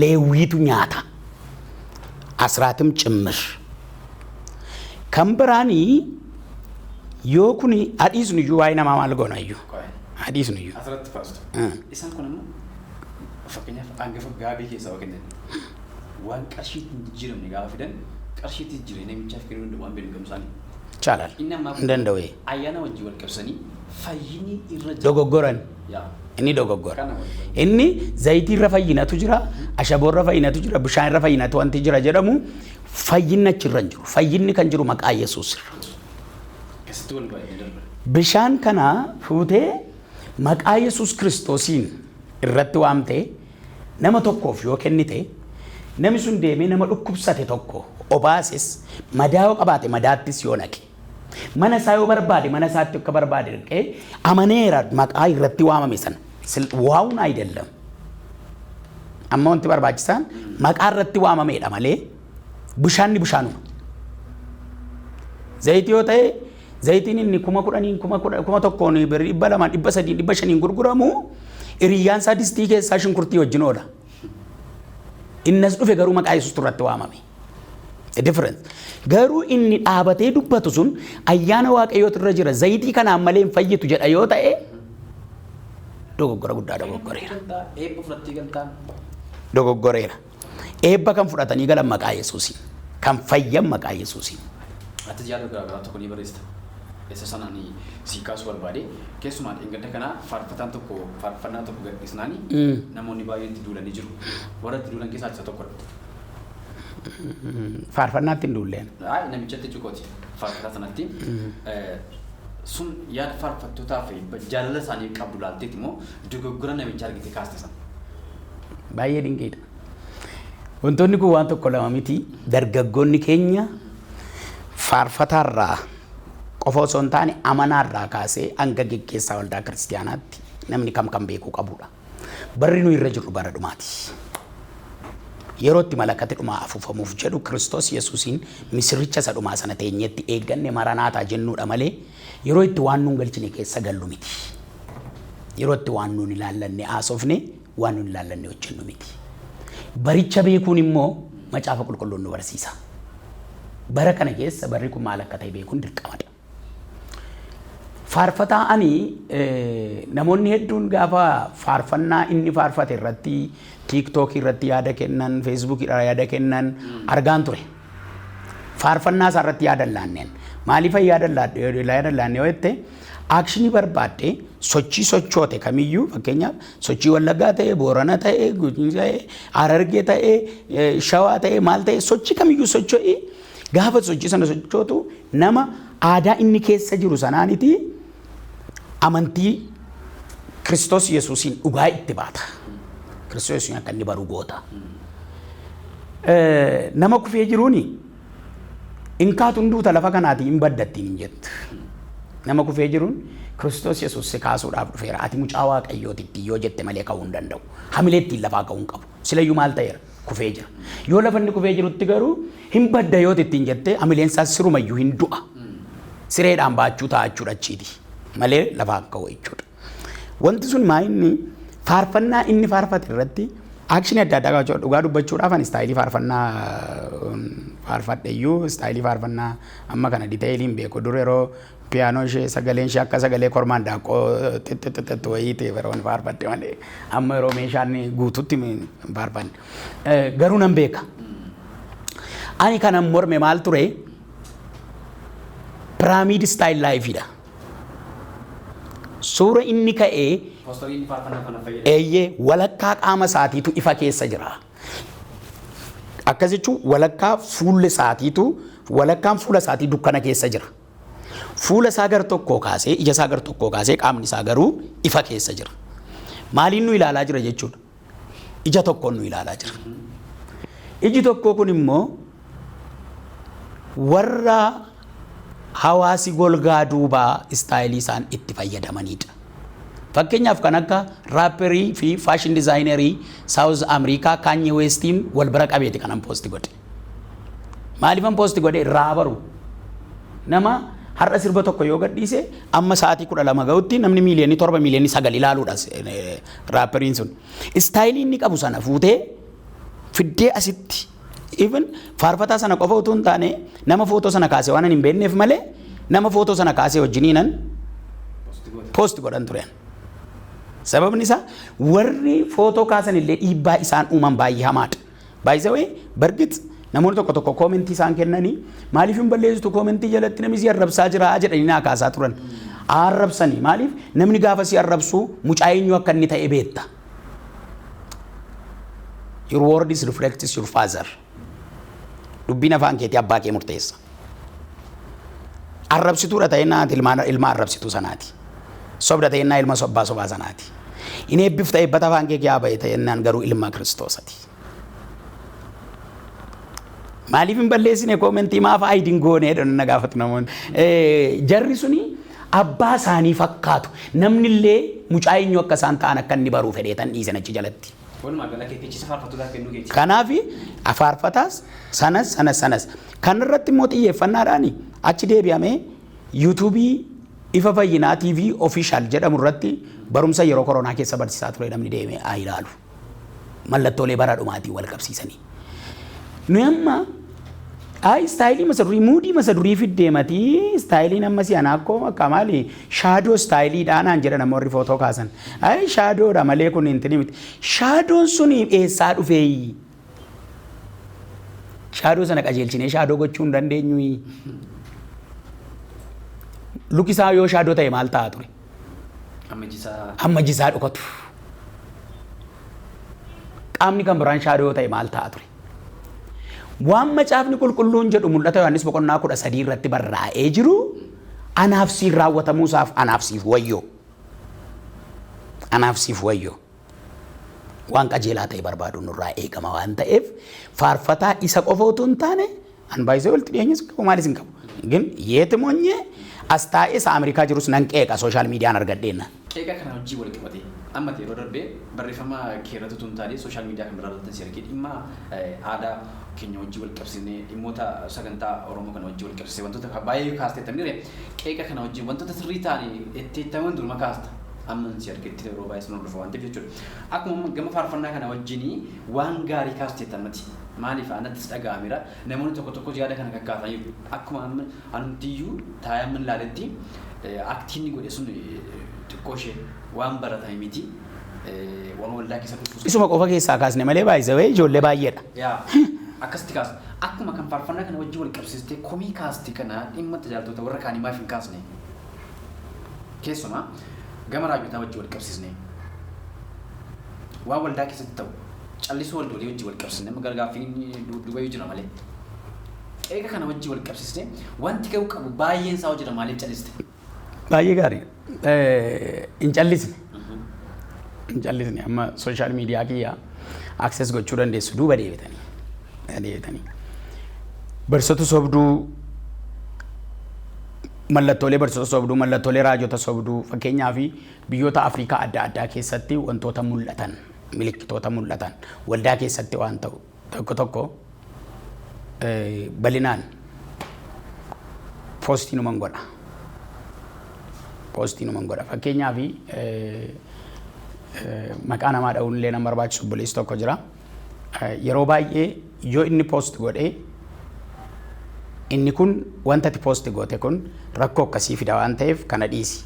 Leewwiitu nyaata. Asraatim cimmir. Kan biraanii yoo kun hadhiisnu iyyuu waa'ee namaa maal goona iyyuu? Hadhiisnu iyyuu. Asirratti faastu. Isaan kun immoo Fakkeenyaaf angafa gaabii keessaa waa kennan. Waan qarshiitti hin jijjiiramne gaafa fidan qarshiitti jijjiiranii namichaaf kennuu danda'u waan beeknu gamsaanii. Chaalal. Inni ammaa Hin danda'u. ayyaana wajjin wal qabsanii fayyinni irra jira. Dogoggoran. Yaa. Inni dogoggora. Kana wal qabatu. Inni zayitii irra fayyinatu jira, ashaboo irra fayyinatu jira, bishaan irra fayyinatu wanti jira jedhamu fayyinni achi irra hin jiru. Fayyinni kan jiru maqaa Yesuus irra. Keessatti wal baay'ee darba. Bishaan kana fuutee Maqaa Yesuus Kiristoosiin irratti waamtee nama tokkoof yoo kennite, nami sun deemee nama dhukkubsate tokko obaases, madaa yoo qabaate madaattis yoo naqe, mana isaa yoo barbaade mana isaatti akka barbaade dhaqee amaneera maqaa irratti waamame sana. Sil waawun ayidellam. Amma wanti barbaachisaan maqaa irratti waamameedha malee bishaanni bishaanuma. Zayiti yoo ta'e Zayitiin inni kuma kudhaniin kuma kudha- kuma tokkoon birrii dhibba lamaan dhibba sadiin dhibba shaniin gurguramu hiriyyaan isaa distii keessaa shunkurtii wajjin oola. Innas dhufe garuu maqaa Yesuustu irratti waamame. The difference. Garuu inni dhaabatee dubbatu sun ayyaana waaqayyootu irra jira zayitii kanaan malee hin fayyitu jedha yoo ta'e dogoggora guddaa dogoggoreera. Eebba fudhattee galtaan. Dogoggoreera. Eebba kan fudhatanii galan maqaa Yesuusiin. Kan fayyan maqaa Yesuusiin. Atis yaada garaagaraa tokko ni barreessita. Isa sana ani sii kaasuu barbaade. Keessumaa dheengadda kana faarfataan tokko faarfannaa tokko gadhiisnaan namoonni baay'een itti duulanii jiru. Warra itti duulan keessaa isa tokkodha. Faarfannaatti hin duulleen. Ay, namichatti jechuukooti faarfataa sanatti. Sun yaada faarfattootaa fi jaalala isaanii qabdu laalteeti moo Dogoggora namicha argitee kaaste sana. Baay'ee dinqiidha. Wantoonni kun waan tokko lama miti. Dargaggoonni keenya faarfataarraa qofa osoo hin taane amanaarraa kaasee hanga geggeessaa waldaa kiristiyaanaatti namni kam kan beekuu qabudha. Barri nu irra jirru bara dhumaati. Yeroo itti malakati dhumaa afuufamuuf jedhu Kiristoos Yesuusiin misirricha isa dhumaa sana teenyeetti eegganne maranaataa jennuudha malee Yeroo itti waan nuun galchine keessa gallu miti. Yeroo itti waan nuun ilaallanne haasofne waan nuun ilaallanne hojjennu miti. Baricha beekuun immoo macaafa qulqulluun nu barsiisa. Bara kana keessa barri kun maal akka ta'e beekuun dirqamadha. Faarfataa ani namoonni hedduun gaafa faarfannaa inni faarfate irratti tiiktookii irratti yaada kennan, feesbuukii irraa yaada kennan argaan ture. faarfannaa isaa irratti yaadan laanneen maaliifan yaadan laanne yoo jette aakshinii barbaadde sochii sochoote kamiyyuu fakkeenyaaf sochii wallaggaa ta'e boorana ta'e gujii ta'e harargee ta'e shawaa ta'e maal ta'e sochii kamiyyuu socho'i gaafa sochii sana sochootu nama aadaa inni keessa jiru sanaaniti amantii Kiristoos Yesuusiin dhugaa itti baata. Kiristoos Yesuusiin akka inni baru goota. Eh, Nama kufee jiruuni in kaatu hin duuta lafa kanaatii hin badda ittiin hin jettu. Nama kufee jiruun Kiristoos Yesuus si kaasuudhaaf dhufeera. Ati mucaa Waaqayyooti ittiin yoo jette malee ka'uu hin danda'u. Hamilee ittiin lafaa ka'uu hin qabu. Silayyuu maal ta'eera? kufee jira. Yoo lafa inni kufee jirutti garuu hin badda yoo ittiin jettee hamileen isaa sirumayyuu hin du'a. Sireedhaan baachuu ta'a jechuudha achiiti. Malee lafaan ka'u jechuudha. Wanti sun maa inni faarfannaa inni faarfate irratti aakshinii adda addaa qabaachuu dhugaa dubbachuudhaaf ani istaayilii faarfannaa um, faarfadheyyuu istaayilii faarfannaa amma kana diteeyilii hin beeku dur yeroo Piyaanoo ishee sagaleen ishee akka sagalee kormaa handaaqqoo xixxixixxixxi wayii ta'e bara wani faarfatte malee amma yeroo meeshaan guututti hin faarfanne. Eh, Garuu nan beeka. Ani kanan morme maal ture? Piraamiid istaayil laayifiidha. Suura inni ka'ee Poostoriin inni faarfannaa kana fayyadamu. eeyyee walakkaa qaama isaatiitu ifa keessa jira. Akkas jechuun walakkaa fuulli isaatiitu walakkaan fuula isaatii dukkana keessa jira. Fuula isaa gar tokkoo kaasee, ija isaa gar tokkoo kaasee qaamni isaa garuu ifa keessa jira. Maaliin nu ilaalaa jira jechuudha? Ija tokkoon nu ilaalaa jira. Iji tokkoo kun immoo warra hawaasi golgaa duubaa istaayilii isaan itti fayyadamanidha. Fakkeenyaaf kan akka raapperii fi faashin dizaayinerii Saawuz Ameerikaa Kaanyee Weestiin wal bira qabeeti kanan poosti godhe. Maalifan post godhe irraa baru. Nama har'a sirba tokko yoo gadhiise amma sa'aatii kudha lama ga'utti namni miiliyoonni torba miiliyoonni sagal ilaaluudha raapperiin sun. Istaayilii inni qabu sana fuutee fiddee asitti even faarfataa sana qofa utuu hin taane nama footoo sana kaase waan hin beekneef malee nama footoo sana kaasee wajjiniinan post godhan turan. Sababni isaa warri footoo kaasan illee dhiibbaa isaan uuman baay'ee hamaadha. By the way, bargit namoonni tokko tokko koomentii isaan kennanii maaliif hin balleessitu koomentii jalatti namni si arrabsaa jira jedhanii naa kaasaa turan. Haa arrabsanii maaliif namni gaafa si arrabsu mucaa eenyu akka inni ta'e beetta. Your word is reflects your father. Dubbiin afaan keetii abbaa kee murteessa. Arrabsituudha ta'ennaa ati ilma ilma arrabsituu sanaati. Sobda ta'ennaa ilma sobbaa sobaa sanaati. Hin eebbifta eebbata afaan kee kiyaa ba'e ta'ennaan garuu ilma kiristoosati. Maaliif hin balleessine koomentii maaf ayidiin goone jedhan na gaafatu namoonni. Eh, Jarri suni abbaa isaanii fakkaatu. Namni illee mucaa eenyu akka isaan ta'an akka inni baruu fedhee tan dhiisan achi jalatti. Walumaa gala keetti jecha faarfattootaaf kennuu keeti. Kanaaf faarfataas sanas sanas sanas Kana irratti immoo xiyyeeffannaadhaan achi deebi'amee YouTube Ifa Fayyinaa TV Official jedhamu irratti barumsa yeroo koronaa keessa barsiisaa ture namni deemee haa ilaalu. Mallattoolee bara dhumaatiin wal qabsiisanii. Nuyi amma Ayi istaayilii masa durii muudii masa durii fiddee matii istaayiliin amma si anaa akkoo akka maali shaadoo istaayilii dhaanaan jedhan amma warri footoo kaasan. Ayi shaadoodha malee kun hin tinimiti. Shaadoon sun eessaa dhufee? Shaadoo sana qajeelchinee shaadoo gochuu hin dandeenyuyi. Luki isaa yoo shaadoo ta'e maal ta'a ture? Amma jisaa. Amma jisaa dhokatu. Qaamni kan biraan shaadoo yoo ta'e maal ta'a ture? Waan macaafni qulqulluun jedhu mul'ata Yohaannis boqonnaa kudha sadii irratti barraa'ee jiru anaaf siin raawwatamuusaaf anaaf siif wayyoo. Anaaf siif wayyoo. Waan qajeelaa ta'e barbaaduun nurraa eegama waan ta'eef faarfataa isa qofa utuu hin taane an baay'isee walitti dhiyeenyas qabu maalis hin qabu. Gin yeeti monyee as taa'ee isa Ameerikaa jirus nan qeeqa sooshaal miidiyaan argadheenna. Qeeqa kana wajjin wal qabatee amma ta'e yeroo darbe barreeffama kee irratti utuu hin taane sooshaal miidiyaa kan biraa irratti si argee dhimma aadaa keenya wajjin wal qabsiisnee dhimmoota sagantaa Oromoo kana wajjin wal qabsiisee wantoota baay'ee kaasteetta mire qeeqa kana wajjin wantoota sirrii ta'anii itti ittaman duruma kaasta. Amman si argetti yeroo baay'ee sin hordofa waan ta'eef jechuudha. Akkuma amma gama faarfannaa kana wajjin waan gaarii kaasteetta ammati. Maaliif anattis dhaga'ameera. Namoonni tokko tokkos yaada kana kakkaasaniiru. Akkuma amma anumtiyyuu taa'ee amman ilaaletti aktii inni godhe sun xiqqoo ishee waan baratame miti. Waan waldaa keessa dhufus. Isuma qofa keessaa kaasne malee baay'isa wayii ijoollee baay'eedha. Yaa akkasitti kaasa. Akkuma kan faarfannaa kana wajjin wal qabsiistee komii kaaste kana dhimma tajaajiltoota warra kaanii maaf hin kaasne? Keessumaa gama raajotaa wajjin wal qabsiisnee waan waldaa keessatti ta'u callisuu waldoolii wajjin wal qabsiisnee amma gargaaffiin duubayyuu jira malee qeeqa kana wajjin wal qabsiisnee wanti ga'uu qabu baay'een isaa hojjeta maaliif calliste? Baay'ee gaarii. Eh, Hin callisne. Hin callisne. Amma sooshaal miidiyaa kiyya akses gochuu dandeessu duuba deebitanii. Deebitanii. Barsoota sobduu Mallattoolee barsiisota sobduu, mallattoolee raajota sobduu, fakkeenyaaf biyyoota Afrikaa adda addaa keessatti wantoota mul'atan, milikkitoota mul'atan, waldaa keessatti waan ta'u tokko tokko balinaan poostii numan godha. Poostii numan godha. Fakkeenyaaf maqaa namaa dha'uun illee nama barbaachisu obboleessi tokko jira. yeroo baay'ee yoo inni post godhe inni kun wanta ati post goote kun rakkoo akkasii fida waan ta'eef kana dhiisi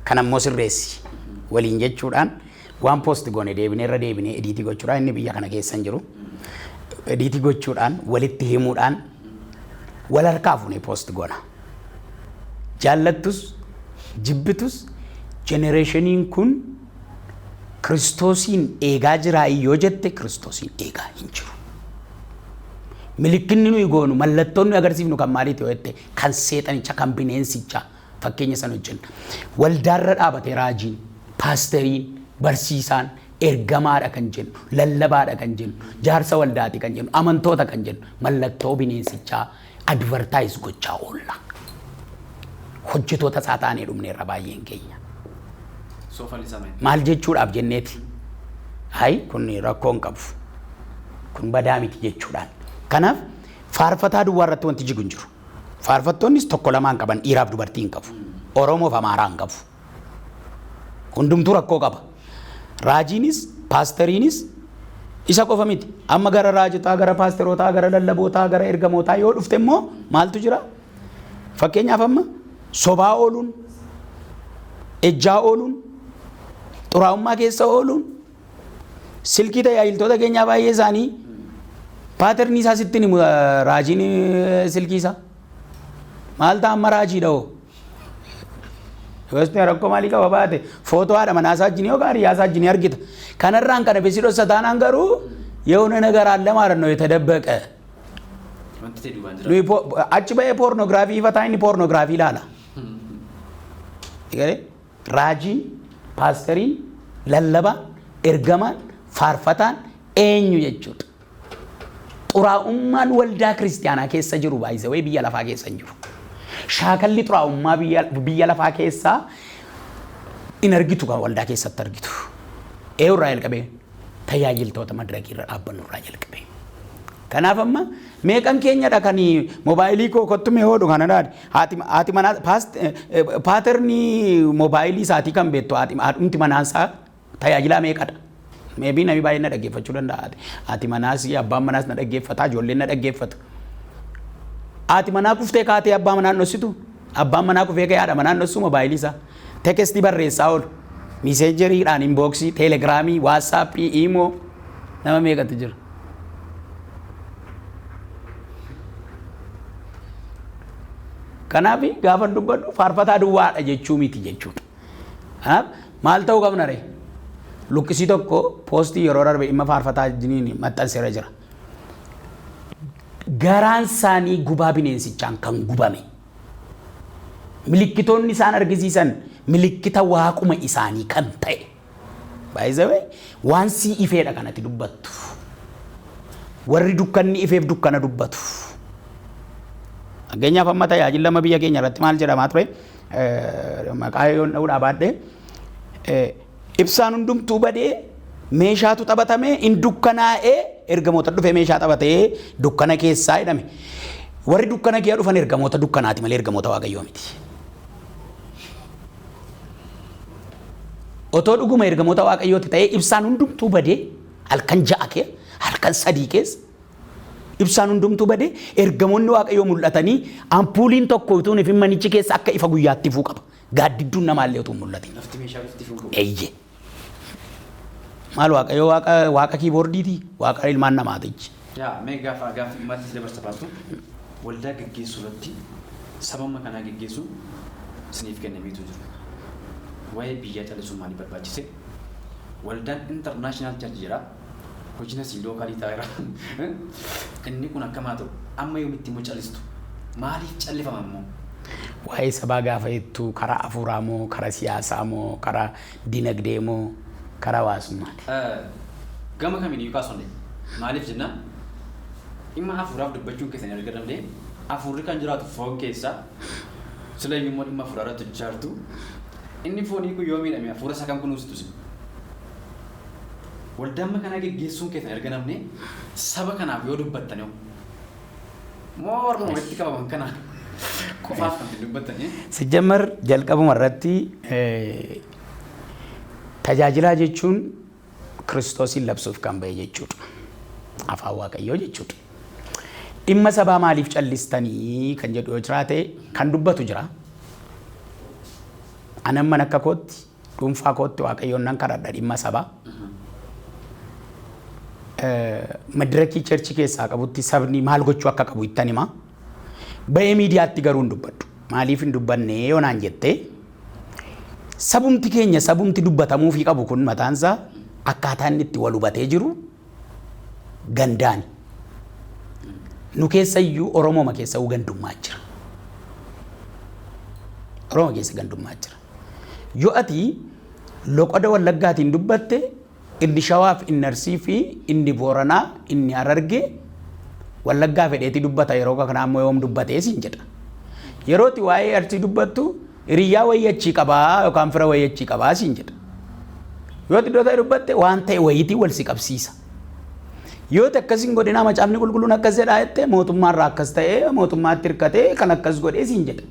kan ammoo sirreessi waliin jechuudhaan waan post goone deebinee irra deebinee ediitii gochuudhaan inni biyya kana keessa hin jiru ediitii gochuudhaan walitti himuudhaan wal harkaa fuunee post goona jaallattus jibbitus jenereeshiniin kun Kiristoosiin eegaa jiraayii yoo jette Kiristoosiin eegaa hin jiru. Milikkinni nuyi goonu mallattoon nuyi agarsiifnu kan maaliiti yoo jette kan seexanicha kan bineensichaa fakkeenya san hojjenna. Waldaarra dhaabatee raajiin, paasteriin, barsiisaan ergamaadha kan jennu, lallabaadha kan jennu, jaarsa waldaati kan jennu, amantoota kan jennu mallattoo bineensichaa advertise gochaa oolla. Hojjetoota isaa taanee dhumneerra baay'een keenya. Soofan isaa maal? Maal jechuudhaaf jenneeti? Hayi kun rakkoo hin qabu. Kun badaa miti jechuudhaan. Kanaaf faarfataa duwwaa irratti wanti jigu hin jiru. Faarfattoonnis tokko lamaan qaban dhiiraaf dubartii hin qabu. Oromoof Amaaraa hin qabu. Hundumtuu rakkoo qaba. Raajiinis, paasteriinis isa qofa miti. Amma gara raajotaa, gara paasterootaa, gara lallabootaa, gara ergamootaa yoo dhufte immoo maaltu jira? Fakkeenyaaf amma sobaa ooluun, ejjaa ooluun, xuraa'ummaa keessa ooluun, silkii tajaajiltoota keenyaa baay'ee isaanii paaternii isaa sitti himu raajiin silkii isaa. Maal ta'a amma raajiidha hoo? Gosti rakkoo maalii qaba baate footoo haadha manaa isaa wajjin yookaan hiriyaa isaa wajjin argita. Kanarraan kana bisi dhossa taanaan garuu yoo nana garaan lamaa rannoo itti dabbaqa. Wanti ta'e duubaan jira. Nuyi po- achi ba'ee poornoogiraafii ifataa inni poornoogiraafii ilaala. Egalee raajiin, paastariin, lallabaan, ergamaan, faarfataan eenyu jechuudha. Xuraa'ummaan waldaa kiristiyaanaa keessa jiru by the way biyya lafaa keessa hin jiru. Shaakalli xuraa'ummaa biyya, biyya lafaa keessaa hin argitu kan waldaa keessatti argitu. Eeyu irraa jalqabee tajaajiltoota madirakii irra dhaabbannu irraa jalqabee. Kanaaf amma meeqan keenyadha kan moobaayilii koo kottu mee hoodhu kana dhaadhi. Haati, haati manaa paast, paaternii moobaayilii isaatii kan beektu haati, haadhumti manaa isaa Tajaajilaa meeqadha? May be namni baay'een na dhaggeeffachuu danda'a. Haati manaas, abbaan manaas na dhaggeeffata, ijoolleen na dhaggeeffatu. Haati manaa kuftee kaatee abbaa manaa hin dhossitu? Abbaan manaa kufee ka'ee haadha manaa hin dhossuu mobaayilii isaa? Tekestii barreessaa oolu. Miseejeriidhaan, inbooksii, teelegiraamii, waatsaappii, iimoo nama meeqatu jira? Kanaaf gaafa dubbadhu faarfataa duwwaadha jechuu miti jechuudha. Kanaaf maal ta'uu qabna ree? Luqqisii tokko poostii yeroo darbe dhimma faarfataa jiniin maxxanseera jira. Garaan isaanii gubaa bineensichaan kan gubame. Milikkitoonni isaan argisiisan milikkita waaquma isaanii kan ta'e. By the way, waan sii ifeedha kan ati dubbattu. Warri dukkanni ifeef dukkana dubbatu. Fakkeenyaaf amma tajaajila lama biyya keenya irratti maal jedhamaa ture? Maqaa yoon dha'uudhaa baadhee ibsaan hundumtuu badee meeshaatu taphatame in dukkanaa'ee ergamoota dhufee meeshaa taphatee dukkana keessaa jedhame. Warri dukkana kiyya dhufan ergamoota dukkanaati malee ergamoota waaqayyoo miti. Otoo dhuguma ergamoota Waaqayyooti ta'ee ibsaan hundumtuu badee halkan ja'a kee halkan sadii keessa ibsaan hundumtuu badee ergamoonni Waaqayyoo mul'atanii ampuuliin tokko utuu hin ifin manichi keessa akka ifa guyyaatti ifuu qaba. Gaaddidduun namaallee utuu hin mul'atin. Lafti meeshaa bifti fuudhu. Eeyyee. Maal waaqayyo waaqa waaqa kiiboordiiti waaqa ilmaan namaatichi. Yaa mee gaafa gaaffii dhumaatti si dabarsa paastu waldaa geggeessuu irratti sababuma kanaa geggeessuun isiniif kennameetu jira. Waa'ee biyyaa callisuun maaliif barbaachise? Waldaan International Church jira. Hojin asii lookaa ni taa iraa inni kun akkam haa ta'u amma yoomitti immoo calistu maaliif callifama immoo. Waa'ee sabaa gaafa jettu karaa afuuraa moo karaa siyaasaa moo karaa dinagdee moo karaa hawaasummaati? Gama kamiin iyyuu kaasuu dandeenya. Maaliif jennaan dhimma afuuraaf dubbachuun keessan erga danda'e afuurri kan jiraatu foon keessa sila iyyuu immoo dhimma afuuraa irratti hojjechaa jirtu inni foonii kun yoo miidhame afuura isaa kan kunuusitu isin. Waldaa amma kanaa geggeessuun keessan erga namni saba kanaaf yoo dubbattan hoo? Moo warruma walitti qabaman kana qofaaf kan isin dubbattanii? Sijjammar jalqabuma irratti tajaajilaa jechuun Kiristoosiin labsuuf kan ba'e jechuudha. Afaan Waaqayyoo jechuudha. Dhimma sabaa maaliif callistanii kan jedhu yoo jiraate kan dubbatu jira. Anan man akka kootti Dhuunfaa kootti Waaqayyoon nan kadhadha dhimma sabaa. Madirakii cherchii keessaa qabutti sabni maal gochuu akka qabu ittan hima. Ba'ee miidiyaatti garuu hin dubbadhu. Maaliif hin dubbanne yoo naan jette sabumti keenya sabumti dubbatamuufii qabu kun mataansaa akkaataa inni itti wal hubatee jiru gandaani. Nu keessa iyyuu Oromooma keessa iyyuu gandummaa jira. Oromoo keessa gandummaa jira. Yoo ati loqoda wallaggaatiin dubbatte inni shawaaf inni arsii fi inni booranaa inni harargee wallaggaa fedheetii dubbata yeroo kanaa immoo yoom dubbatee siin jedha. Yerooti waa'ee arsii dubbattu Hiriyyaa wayii achii qabaa yookaan fira wayii achii qabaa siin jedha. Yoo ati iddoo ta'e dubbatte waan ta'e wayiitiin wal si qabsiisa. Yoo ta'e akkas hin godhinaa macaafni qulqulluun akkas jedhaa jette mootummaa irraa akkas ta'ee mootummaatti hirkatee kan akkas godhee siin jedha.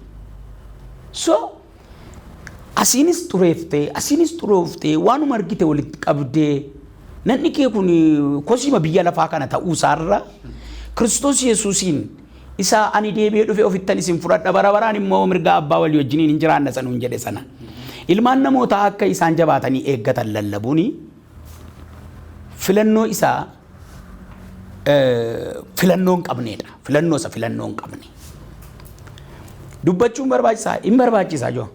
So asiinis xureeftee asiinis xurooftee waanuma argite walitti qabdee nanni kee kun kosiima biyya lafaa kana ta'uu isaarra Kiristoos Yesuusiin Isa, Ani deebi'ee dhufee ofittan isin fudhadha, bara baraan immoo mirga Abbaa walii wajjiniin in jiraanna isa nuun jedhe sana. Ilmaan namootaa akka isaan jabaatanii eeggatan lallabuun filannoo isa filannoo hin qabneedha. Filannoo isa filannoo hin qabne. Dubbachuun barbaachisaa? Hin barbaachisaa joo.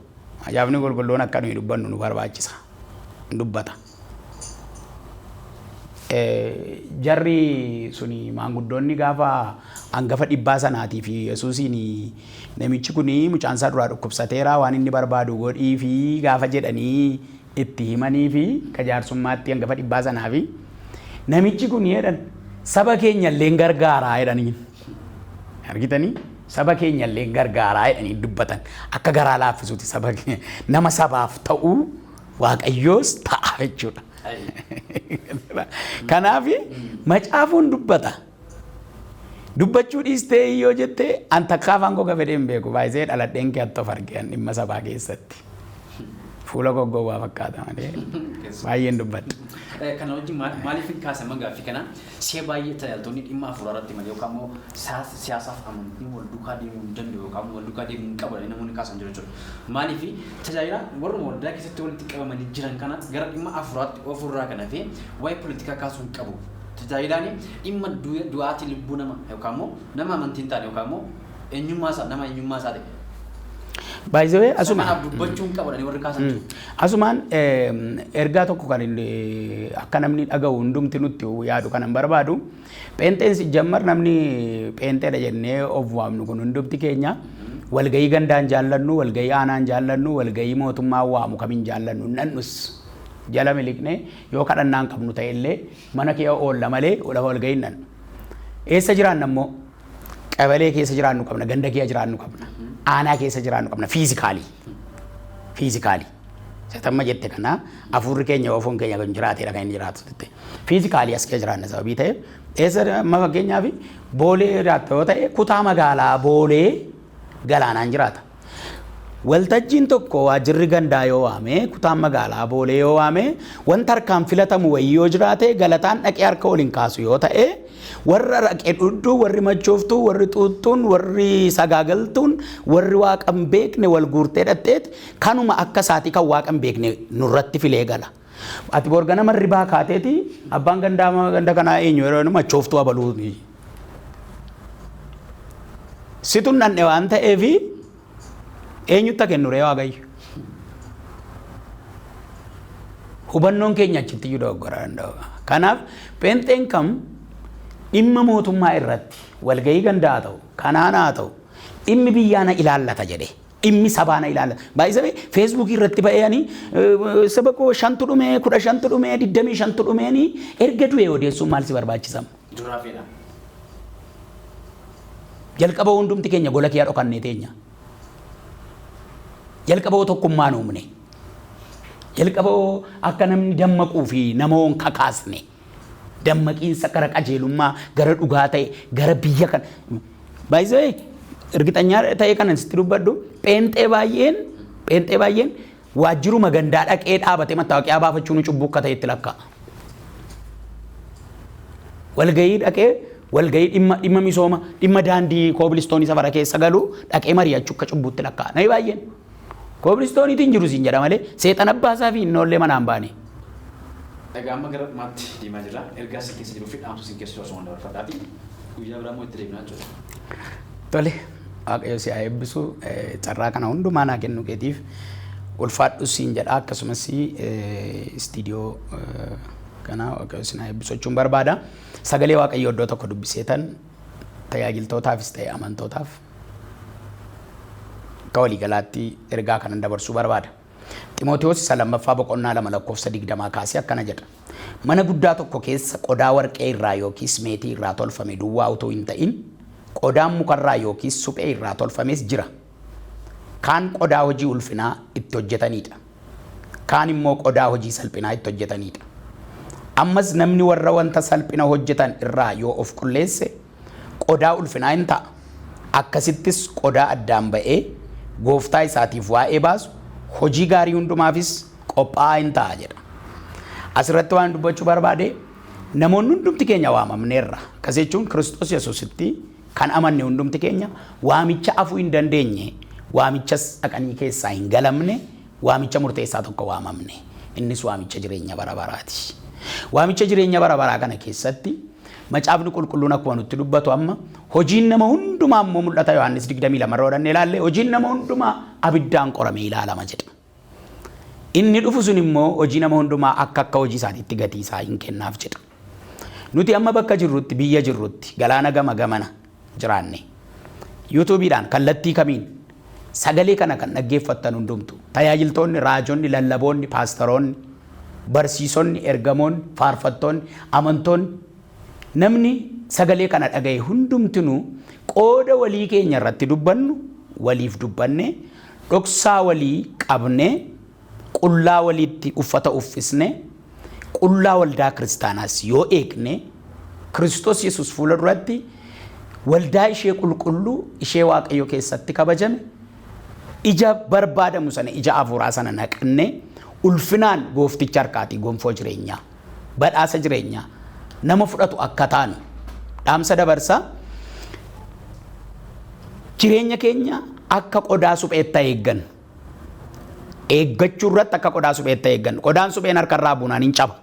Macaafni qulqulluun akka nuyi dubbannu nu barbaachisa. Dubbata. jarri suni maanguddoonni gaafa hangafa dhibbaa sanaatii fi Yesuusiin namichi kun mucaan isaa duraa dhukkubsateera waan inni barbaadu godhii fi gaafa jedhanii itti himanii fi ka jaarsummaatti hangafa dhibbaa sanaa fi namichi kun jedhan saba keenya illee gargaaraa jedhanii argitanii saba keenya illee gargaaraa jedhanii dubbatan akka garaa laaffisuuti saba nama sabaaf ta'uu Waaqayyoos ta'a jechuudha. Kanaaf macaafuun dubbata. Dubbachuu dhiistee yoo jette an takka afaan koo gafedhee hin beeku baay'isee dhaladheen kee attoof argee an dhimma sabaa keessatti. Fuula koo gowwaa fakkaata malee baay'een dubbadha. Kana wajjin maaliif hin kaasama gaaffii kana? Si'a baay'ee tajaajiltoonni dhimma hafuuraarratti malee yookaan immoo siyaasa siyaasaaf amantiin wal duukaa deemuu hin danda'u yookaan immoo wal duukaa deemuu hin qabu jedhanii namoonni kaasan jiru jechuudha. Maaliif tajaajila warruma waldaa keessatti walitti qabamanii jiran kana gara dhimma hafuuraatti oofuu irraa kan hafe waa'ee politikaa kaasuu hin qabu. Tajaajilaan dhimma du'aatii lubbuu nama yookaan immoo nama amantii hin taane yookaan immoo Eenyummaa isaa nama eenyummaa isaa ta'e. By the way Isa asuma kanaaf dubbachuu hin qabadhani warri kaasan jiru. asumaan eem, ergaa tokko kan inni akka namni dhagahu hundumti nutti yaadu kanan barbaadu pheenxeen si jammar namni pheenxeedha jennee of waamnu kun hundumti keenya walgahii gandaan jaallannu walgahii aanaan jaallannu walgahii mootummaa waamu kamiin jaallannu nannus jala miliqnee yoo kadhannaan qabnu ta'e illee mana kee oolla malee lafa walgahii nan eessa jiraanna immoo Qabalee keessa jiraannu qabna, ganda kee jiraannu qabna, aanaa keessa jiraannu qabna, fiizikaalii. Fiizikaalii. Satamma jette kana afuurri keenya oofoon keenya kan jiraatedha kan inni jiraatu jette. Fiizikaalii as kee jiraanna sababii ta'eef eessa amma fakkeenyaaf boolee jiraatta yoo ta'e kutaa magaalaa boolee galaanaan jiraata. Waltajjiin tokko waajirri gandaa yoo waame, kutaan magaalaa Boolee yoo waame, wanta harkaan filatamu wayii yoo jiraate galataan dhaqee harka ol hin kaasu yoo ta'e, warra raqe dhugdu, warri machooftuu, warri xuuxxuun, warri sagaagaltuun, warri waaqa hin beekne wal guurtee dhaqxeeti kanuma akka isaatii kan waaqa hin beekne nurratti filee gala. Ati bor ganama hirribaa kaateeti abbaan gandaa ganda kanaa eenyu yeroo jedhamu machooftuu abaluu ni. Situn dhandhe waan ta'eef eenyutta kennu ree waaqayyo. Hubannoon keenya achitti iyyuu dogoggora danda'u. Kanaaf pheenxeen kam dhimma mootummaa irratti walgahii gandaa haa ta'u kanaan haa ta'u dhimmi biyyaa na ilaallata jedhee. Dhimmi sabaa na ilaallata. By the way, Facebook irratti ba'ee ani saba koo shantu dhume, kudha shantu dhume, digdamii shantu dhumeeni erga du'e odeessuun maal si barbaachisa? Duraa feena. Jalqaba hundumti keenya gola kiyaa dhokannee teenya. Jalqaba hoo tokkummaan uumne. Jalqaba hoo akka namni dammaquu fi nama hoon kakaasne. Dammaqiinsa gara qajeelummaa, gara dhugaa ta'e, gara biyya kan By the way, ergixanyaa ta'ee kanan sitti dubbadhu, pheenxee baay'een, pheenxee baay'een waajjiruma gandaa dhaqee dhaabatee mattaawoqiyaa baafachuun cubbuu akka ta'e itti lakkaa'a. Walgahii dhaqee, walgahii dhimma, dhimma misooma, dhimma daandii koobilistoonii safara keessa galu dhaqee mari'achuu akka cubbuutti lakkaa'a. Namni baay'een. Koobilistooniitu hin jiru siin jedha malee seexan abbaa isaa fi innoollee manaa hin baane. Egaa amma gara dhumaatti deemaa jirra. Ergaa isin keessa jiruu fi dhaamsa isin keessa jiru asumaan dabarfadhaati. Guyyaa biraa immoo itti deebina jechuudha. Tole waaqayyo si haa eebbisu Eh, carraa kana hundumaa naa kennuu keetiif ulfaadhu siin jedha akkasumas eh, istiidiyoo eh, kana waaqayyo si naa eebbisu jechuun barbaada. Sagalee waaqayyoo iddoo tokko dubbiseetan tajaajiltootaafis ta'e amantootaaf akka waliigalaatti ergaa kanan dabarsuu barbaada. Ximootiyoos isa lammaffaa boqonnaa lama lakkoofsa digdamaa kaasee akkana jedha. Mana guddaa tokko keessa qodaa warqee irraa yookiis meetii irraa tolfame duwwaa utuu hin ta'in qodaan mukarraa yookiis suphee irraa tolfames jira. Kaan qodaa hojii ulfinaa itti hojjetanii dha. Kaan immoo qodaa hojii salphinaa itti hojjetanii dha. Ammas namni warra wanta salphina hojjetan irraa yoo of qulleesse, qodaa ulfinaa in ta'a, akkasittis qodaa addaan ba'ee gooftaa isaatiif waa'ee baasu, hojii gaarii hundumaafis qophaa'aa in ta'a jedha. As irratti waanan dubbachuu barbaade, namoonni hundumti keenya waamamneerra, akkas jechuun Kiristoos Yesuusitti, Kan amanne hundumti keenya waamicha afuu hin dandeenye, waamichas dhaqanii keessaa hin galamne, waamicha murteessaa tokko waamamne. Innis waamicha jireenya bara baraati. Waamicha jireenya bara baraa kana keessatti Macaafni Qulqulluun akkuma nutti dubbatu amma hojiin nama hundumaa immoo mul'ata Yohaannis 22 irra hodhannee ilaalle hojiin nama hundumaa abiddaan qoramee ilaalama jedha. Inni dhufu sun immoo hojii nama hundumaa akka akka hojii isaatiitti gatii isaa in kennaaf jedha. Nuti amma bakka jirrutti, biyya jirrutti, galaana gama gamana jiraanne, YouTube dhaan, kallattii kamiin, sagalee kana kan dhaggeeffattan hundumtu, tajaajiltoonni, raajonni, lallaboonni, paastaroonni, barsiisonni, ergamoonni, faarfattoonni, amantoonni, namni sagalee kana dhaga'e hundumtinuu qooda walii keenya irratti dubbannu waliif dubbannee, Dhoksaa walii qabnee, qullaa waliitti uffata uffisne, qullaa waldaa kiristaanaas yoo eegne, Kiristoos Yesuus fuula duratti waldaa ishee qulqulluu, ishee Waaqayyo keessatti kabajame, ija barbaadamu sana, ija hafuuraa sana naqannee, ulfinaan goofticha harkaatii gonfoo jireenyaa. badhaasa jireenyaa nama fudhatu akka taanu dhaamsa dabarsa. Jireenya keenya akka qodaa supheetta eeggannu. Eeggachuu irratti akka qodaa supheetta eeggannu. Qodaan supheen harka irraa buunaan hin caba.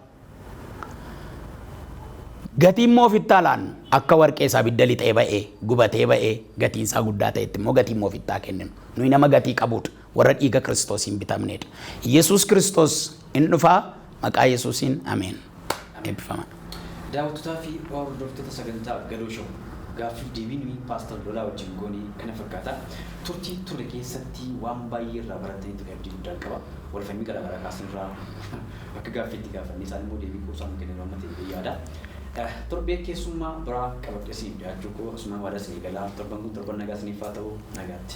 Gatii immoo ofitti haa laannu. Akka warqee isaa abidda lixee ba'ee, gubatee ba'ee, gatiin isaa guddaa ta'etti immoo gatii immoo ofitti haa kenninu. Nuyi nama gatii qabudha. Warra dhiiga kiristoosiin bitamneedha. Yesuus kiristoos in dhufaa maqaa yesuusiin ameen. Eebbifamaa. Daawwattotaa fi hordoftoota sagantaa Gadoo Show, gaaffiif deebii nuyi Paastar Lolaa wajjin goone kana fakkaata. Turtii turre keessatti waan baay'ee irraa barattanitti kan abdii guddaan qaba. Wal falmii garaa garaa kaasne irraa akka gaaffii itti gaafannee isaan immoo deebii quubsaa nu kennan waan ta'eef yaada. Torbee keessummaa biraa qabadhee isiniif dhiyaachuu koo asumaan waadaa isinii gala. Torban kun torban nagaa isiniif haa ta'u. Nagaatti.